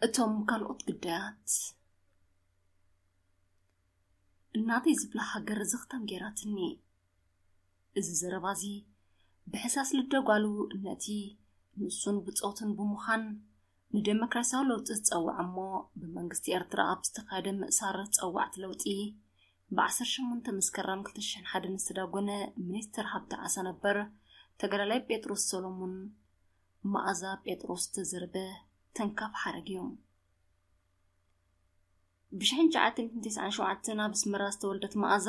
እቶም ካልኦት ግዳያት እናተይ ዝብላ ሃገር ዝኽተም ገይራትኒ እዚ ዘረባ እዚ ብሕሳስ ልደ ጓሉ ነቲ ንሱን ብጾቱን ብምዃን ንደሞክራስያዊ ለውጢ ዝጸውዐ እሞ ብመንግስቲ ኤርትራ ኣብ ዝተኻየደ ምእሳር ጸዋዕቲ ለውጢ ብ18 መስከረም 2001 ዝተዳጎነ ሚኒስትር ሃብቲ ዓሳ ነበር ተጋዳላይ ጴጥሮስ ሰሎሙን መኣዛ ጴጥሮስ ዝተዘርበ ተንካፍ ሓረግ እዩ። ብ1997 ኣብ ኣስመራ ዝተወልደት መኣዛ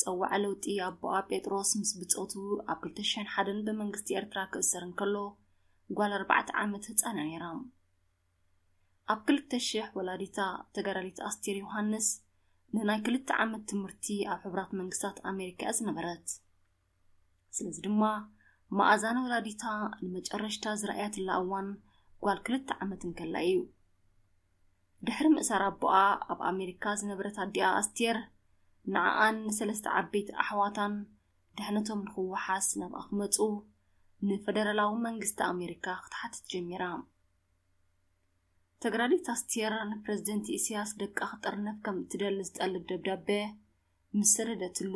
ጸዋዕ ለውጢ ኣቦኣ ጴጥሮስ ምስ ብጾቱ ኣብ 2001 ብመንግስቲ ኤርትራ ክእሰር እንከሎ ጓል ኣርባዕተ ዓመት ህጻን እያ ነይራ። ኣብ 2000 ወላዲታ ተጋዳሊት ኣስቴር ዮሃንስ ንናይ ክልተ ዓመት ትምህርቲ ኣብ ሕቡራት መንግስታት ኣሜሪካ እያ ዝነበረት። ስለዚ ድማ መኣዛን ወላዲታ ንመጨረሽታ ዝረኣያትላ እዋን ጓል ክልተ ዓመት እንከላ እዩ። ድሕሪ ምእሳር ኣቦኣ ኣብ ኣሜሪካ ዝነበረት ኣዲኣ ኣስቴር ንዓኣን ንሰለስተ ዓበይቲ ኣሕዋታን ድሕነቶም ንክወሓስ ናብኣ ክመፁ ንፈደራላዊ መንግስቲ ኣሜሪካ ክትሓትት ጀሚራ ተግራዲት ኣስቴር ንፕረዚደንት ኢሳያስ ደቃ ክጥርነፍ ከም እትደሊ ዝጠልብ ደብዳቤ ምስ ሰደደትሉ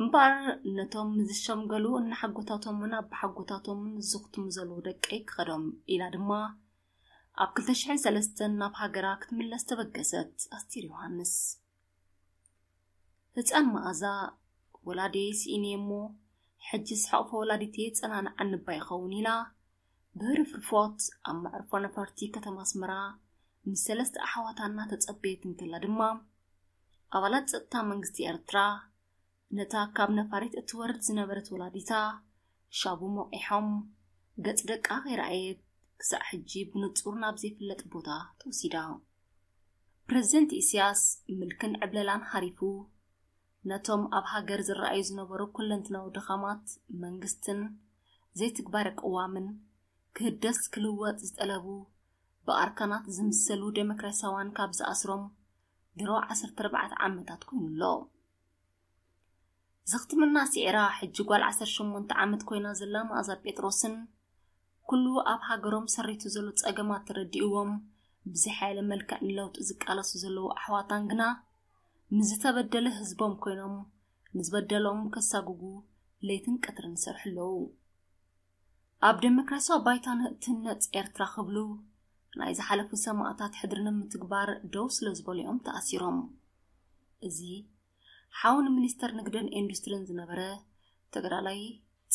እምበኣር ነቶም ዝሸምገሉ እናሓጎታቶምን ኣቦሓጎታቶምን ዝዝኽትሙ ዘለዉ ደቀይ ክኸዶም ኢላ ድማ ኣብ ክልተ ሽሕን ሰለስተን ናብ ሃገራ ክትምለስ ተበገሰት ኣስቴር ዮሃንስ ህፃን መኣዛ ወላዲየይ ስኢነ እሞ ሕጅስ ሕቕፎ ወላዲተይ የፀናንዓኒ እባ ይኸውን ኢላ ብህርፍርፎት ኣብ መዕርፎ ነፈርቲ ከተማ ኣስመራ ምስ ሰለስተ ኣሕዋታ እናተጸበየት እንከላ ድማ ኣባላት ጸጥታ መንግስቲ ኤርትራ ነታ ካብ ነፋሪት እትወርድ ዝነበረት ወላዲታ ሻቡ ሞቂሖም ገጽ ደቃ ከይረኣየት ክሳዕ ሕጂ ብንጹር ናብ ዘይፍለጥ ቦታ ተወሲዳ ፕረዚደንት ኢስያስ ምልክን ዕብለላን ሃሪፉ ነቶም ኣብ ሃገር ዝረኣዩ ዝነበሩ ኩለንትናዊ ድኻማት መንግስትን ዘይትግባረ ቅዋምን፣ ክህደስ ክልወጥ ዝጠለቡ ብኣርካናት ዝምሰሉ ደሞክራሲያውያን ካብ ዝኣስሮም ድሮ ዓሰርተ ኣርባዕተ ዓመታት ኮይኑ ኣሎ። ዝኽትምና ስዒራ ሕጂ ጓል ዓሰርተ ሸሞንተ ዓመት ኮይና ዘላ መኣዛ ጴጥሮስን ኩሉ ኣብ ሃገሮም ሰሪቱ ዘሎ ጸገማት ተረዲእዎም ብዝሓየለ መልክዕ ንለውጢ ዝቃለሱ ዘለዉ ኣሕዋታን ግና ንዝተበደለ ህዝቦም ኮይኖም ንዝበደሎም ከሳጉጉ ለይትን ቀትርን ይሰርሑ ኣለዉ። ኣብ ደሞክራሲያዊ ባይታ ንእትህነጽ ኤርትራ ክብሉ ናይ ዝሓለፉ ሰማእታት ሕድሪ ንምትግባር ደው ስለ ዝበሉ እዮም ተኣሲሮም። እዚ ሓው ንሚኒስተር ንግድን ኢንዱስትሪን ዝነበረ ተጋዳላይ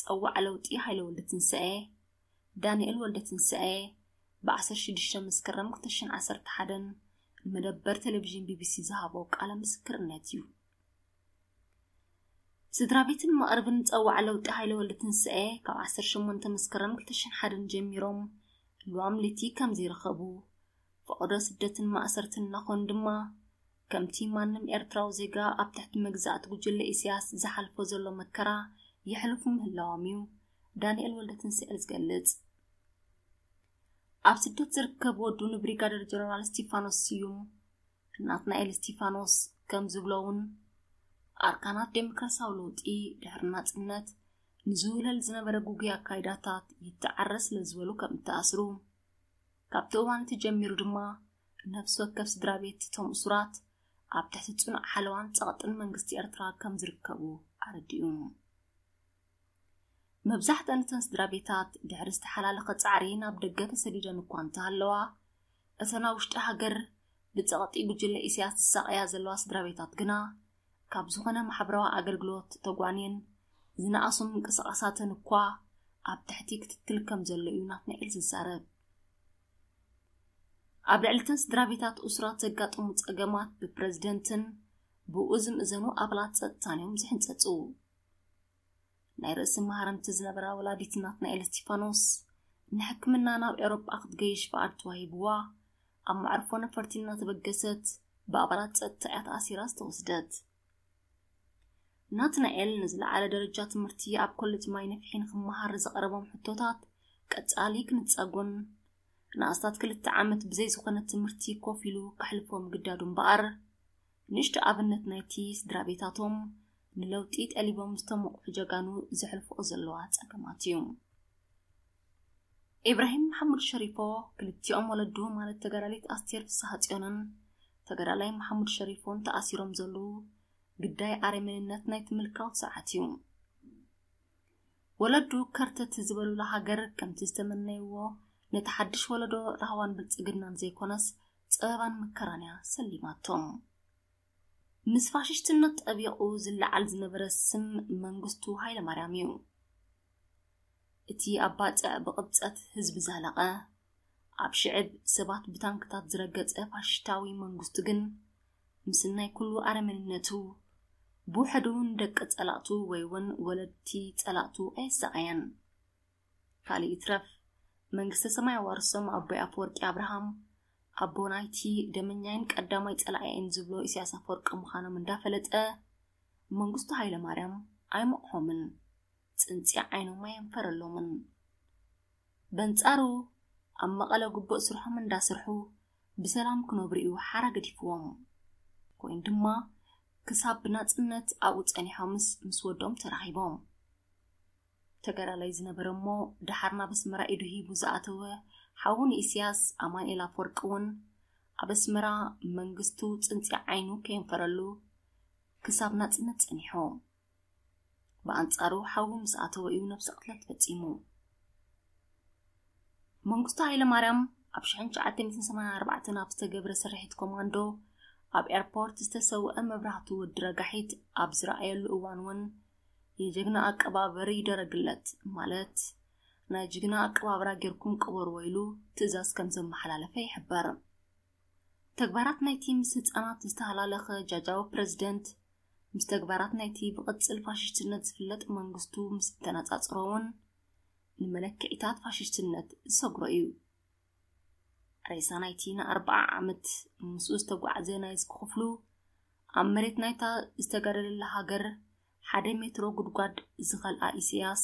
ጸዋዕ ለውጢ ሃይለ ወልደትንሳኤ ዳንኤል ወልደትንሳኤ ብ ዓሰርተ ሽዱሽተ መስከረም ክልተ ሽሕን ዓሰርተ ሓደን ንመደበር ቴሌቪዥን ቢቢሲ ዝሃቦ ቃለ ምስክርነት እዩ። ስድራ ቤትን መቕርብን ጸዋዕ ለውጢ ሃይለ ወልደትንሳኤ ካብ ዓሰርተ ሸሞንተ መስከረም ክልተ ሽሕን ሓደን ጀሚሮም ልዋም ልይቲ ከም ዘይረኸቡ ፈቐዶ ስደትን ማእሰርትን እናኾኑ ድማ ከምቲ ማንም ኤርትራዊ ዜጋ ኣብ ትሕቲ መግዛእቲ ጉጅለ ኢሲያስ ዝሓልፎ ዘሎ መከራ የሕልፉ ምህላዎም እዩ ዳንኤል ወልደትንስኤል ዝገልጽ። ኣብ ስደት ዝርከብ ወዱ ንብሪጋደር ጀነራል እስቲፋኖስ ስዩም ናትናኤል እስቲፋኖስ ከም ዝብሎ እውን ኣርካናት ዴሞክራሲያዊ ለውጢ ድሕሪ ናጽነት ንዝውለል ዝነበረ ጉጉይ ኣካይዳታት ይተዓረ ስለ ዝበሉ ከም እተኣስሩ ካብቲ እዋን እቲ ጀሚሩ ድማ ነፍሲ ወከፍ ስድራ ቤት እቶም እሱራት ኣብ ትሕቲ ጽኑዕ ሓለዋን ጸቕጥን መንግስቲ ኤርትራ ከም ዝርከቡ ኣረዲኡ። መብዛሕተን እተን ስድራ ቤታት ድሕሪ ዝተሓላለኸ ጻዕሪ ናብ ደገ ተሰዲደን እኳ እንተሃለዋ እተን ኣብ ውሽጢ ሃገር ብጸቕጢ ጉጅለ ኢሳያስ ዝሳቐያ ዘለዋ ስድራ ቤታት ግና ካብ ዝኾነ ማሕበራዊ ኣገልግሎት ተጓንየን ዝነኣሱ ምንቅስቓሳተን እኳ ኣብ ትሕቲ ክትትል ከም ዘሎ እዩ ናትናኤል ዝዛረብ ኣብ ልዕልተን ስድራቤታት እሱራት ዘጋጥሙ ጸገማት ብፕረዚደንትን ብኡ ዝምእዘኑ ኣባላት ጸጥታን እዮም ዝሕንጸጹ ናይ ርእሲ መሃረምቲ ዝነበራ ወላዲት ናትናኤል እስቲፋኖስ ንሕክምና ናብ ኤውሮጳ ክትገይሽ ፍቓድ ተዋሂብዋ ኣብ መዕርፎ ነፈርቲ እናተበገሰት ብኣባላት ጸጥታ እያ ተኣሲራ ዝተወስደት ናትናኤል ንዝለዓለ ደረጃ ትምህርቲ ኣብ ኮሌጅ ማይ ነፍሒ ንክመሃር ንዘቕረቦም ሕቶታት ቀጻሊ ክንጸጉን ንኣስታት ክልተ ዓመት ብዘይ ዝኾነ ትምህርቲ ኮፍ ኢሉ ከሕልፎ ምግዳዱ እምበኣር ንእሽቶ ኣብነት ናይቲ ስድራ ቤታቶም ንለውጢ ጠሊቦም ዝተሞቕሑ ጀጋኑ ዘሕልፍኦ ዘለዋ ጸገማት እዩ። ኢብራሂም መሓሙድ ሸሪፎ ክልቲኦም ወለዱ ማለት ተጋዳሊት ኣስቴር ፍስሃጽዮንን ተጋዳላይ መሓሙድ ሸሪፎን ተኣሲሮም ዘለዉ ግዳይ ኣረሜንነት ናይቲ ምልካዊ ስርዓት እዩ። ወለዱ ከርተት ዝበሉላ ሃገር ከምቲ ዝተመነይዎ ነቲ ሓድሽ ወለዶ ራህዋን ብልጽግናን ዘይኮነስ ጸበባን መከራን እያ ሰሊማቶም። ምስ ፋሽስትነት ጠቢቑ ዝለዓል ዝነበረ ስም መንግስቱ ሃይለማርያም እዩ። እቲ ኣብ ባጽዕ ብቕብጸት ህዝቢ ዛለቐ፣ ኣብ ሽዕብ ሰባት ብታንክታት ዝረገጸ ፋሽስታዊ መንግስቱ ግን ምስናይ ኩሉ ኣረመንነቱ ብውሕዱ ንደቂ ጸላእቱ ወይ እውን ወለድቲ ጸላእቱ ኣየሳቐየን። ካልእ ይትረፍ መንግስተ ሰማይ ኣዋርሶም ኣቦይ ኣፈወርቂ ኣብርሃም ኣቦ ናይቲ ደመኛይን ቀዳማይ ጸላኢይን ዝብሎ ኢሳያስ ኣፈወርቂ ምዃኖም እንዳፈለጠ መንግስቱ ሃይለማርያም ኣይመቕሖምን ጽንጺ ዓይኖም ኣየንፈረሎምን በንጻሩ ኣብ መቐለ ጉቡእ ስርሖም እንዳስርሑ ብሰላም ክነብሩ እዩ ሓራ ገዲፍዎም ኮይኑ ድማ ክሳብ ብናጽነት ኣብኡ ጸኒሖምስ ምስ ወዶም ተራኺቦም ተጋዳላይ ዝነበረ እሞ ደሓር ናብ ኣስመራ ኢዱ ሂቡ ዝኣተወ ሓዉ ንኢስያስ ኣማንኤል ኣፍወርቂ እውን ኣብ ኣስመራ መንግስቱ ጽንጺ ዓይኑ ከየንፈረሉ ክሳብ ናጽነት ጸኒሖ። ብኣንጻሩ ሓዉ ምስ ኣተወ እዩ ነብሲ ቅትለት ፈጺሙ። መንግስቱ ሃይለማርያም ኣብ 1984 ኣብ ዝተገብረ ስርሒት ኮማንዶ ኣብ ኤርፖርት ዝተሰውአ መብራህቱ ወዲ ረጋሒት ኣብ ዝረኣየሉ እዋን እውን የጀግና ኣቀባበሪ ይደረግለት ማለት ናይ ጅግና ኣቀባብራ ጌርኩም ቅበርዎ ኢሉ ትእዛዝ ከም ዘመሓላለፈ ይሕበር። ተግባራት ናይቲ ምስ ህፃናት ዝተሃላለኸ ጃጃዊ ፕረዚደንት ምስ ተግባራት ናይቲ ብቕፅል ፋሽስትነት ዝፍለጥ መንግስቱ ምስ እተነፃፅሮ እውን ንመለክዒታት ፋሽስትነት ዝሰግሮ እዩ። ሬሳ ናይቲ ንኣርብዓ ዓመት ምስኡ ዝተጓዕዘ ናይ እስኪ ክፍሉ ኣብ መሬት ናይታ ዝተጋደለላ ሃገር ሓደ ሜትሮ ጉድጓድ ዝኸልኣ ኢሳያስ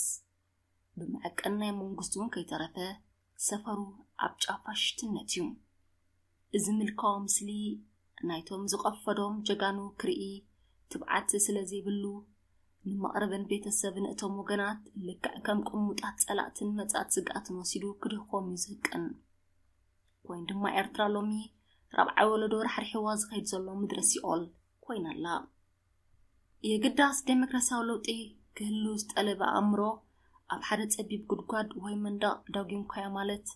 ብመዐቀን ናይ መንግስቱ እውን ከይተረፈ ሰፈሩ ኣብ ጫፋ ሽትነት እዩ እዚ ምልካዊ ምስሊ ናይቶም ዝቐፈዶም ጀጋኑ ክርኢ ትብዓት ስለ ዘይብሉ ንመቕርብን ቤተሰብን እቶም ወገናት ልክዕ ከም ቅሙጣት ጸላእትን መጻት ስግኣትን ወሲዱ ክድኾም እዩ ዝህቅን ኮይኑ ድማ ኤርትራ ሎሚ ራብዓይ ወለዶ ራሕሪሕዋ ዝኸይድ ዘሎ ምድረ ሲኦል ኮይና ኣላ የግዳስ ዴሞክራሲያዊ ለውጢ ክህሉ ዝጠለበ ኣእምሮ ኣብ ሓደ ጸቢብ ጉድጓድ ወይ መንደቕ ዳጒምካዮ ማለት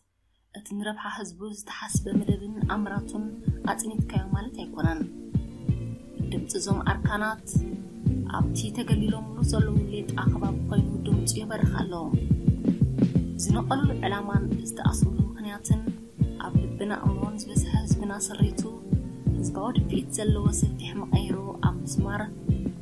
እቲ ንረብሓ ህዝቡ ዝተሓስበ መደብን ኣምራቱን ኣጽኒትካዮ ማለት ኣይኮነን። ድምፂ እዞም ኣርካናት ኣብቲ ተገሊሎምሉ ዘለዉ ሌጣ ከባቢ ኮይኑ ድምፁ የበርኽ ኣሎ። ዝነቐሉሉ ዕላማን ዝተኣስሩሉ ምክንያትን ኣብ ልብና ኣእምሮን ዝበዝሐ ህዝብና ስሪቱ ህዝባዊ ድፍኢት ዘለዎ ሰፊሕ መቐይሮ ኣብ ምስማር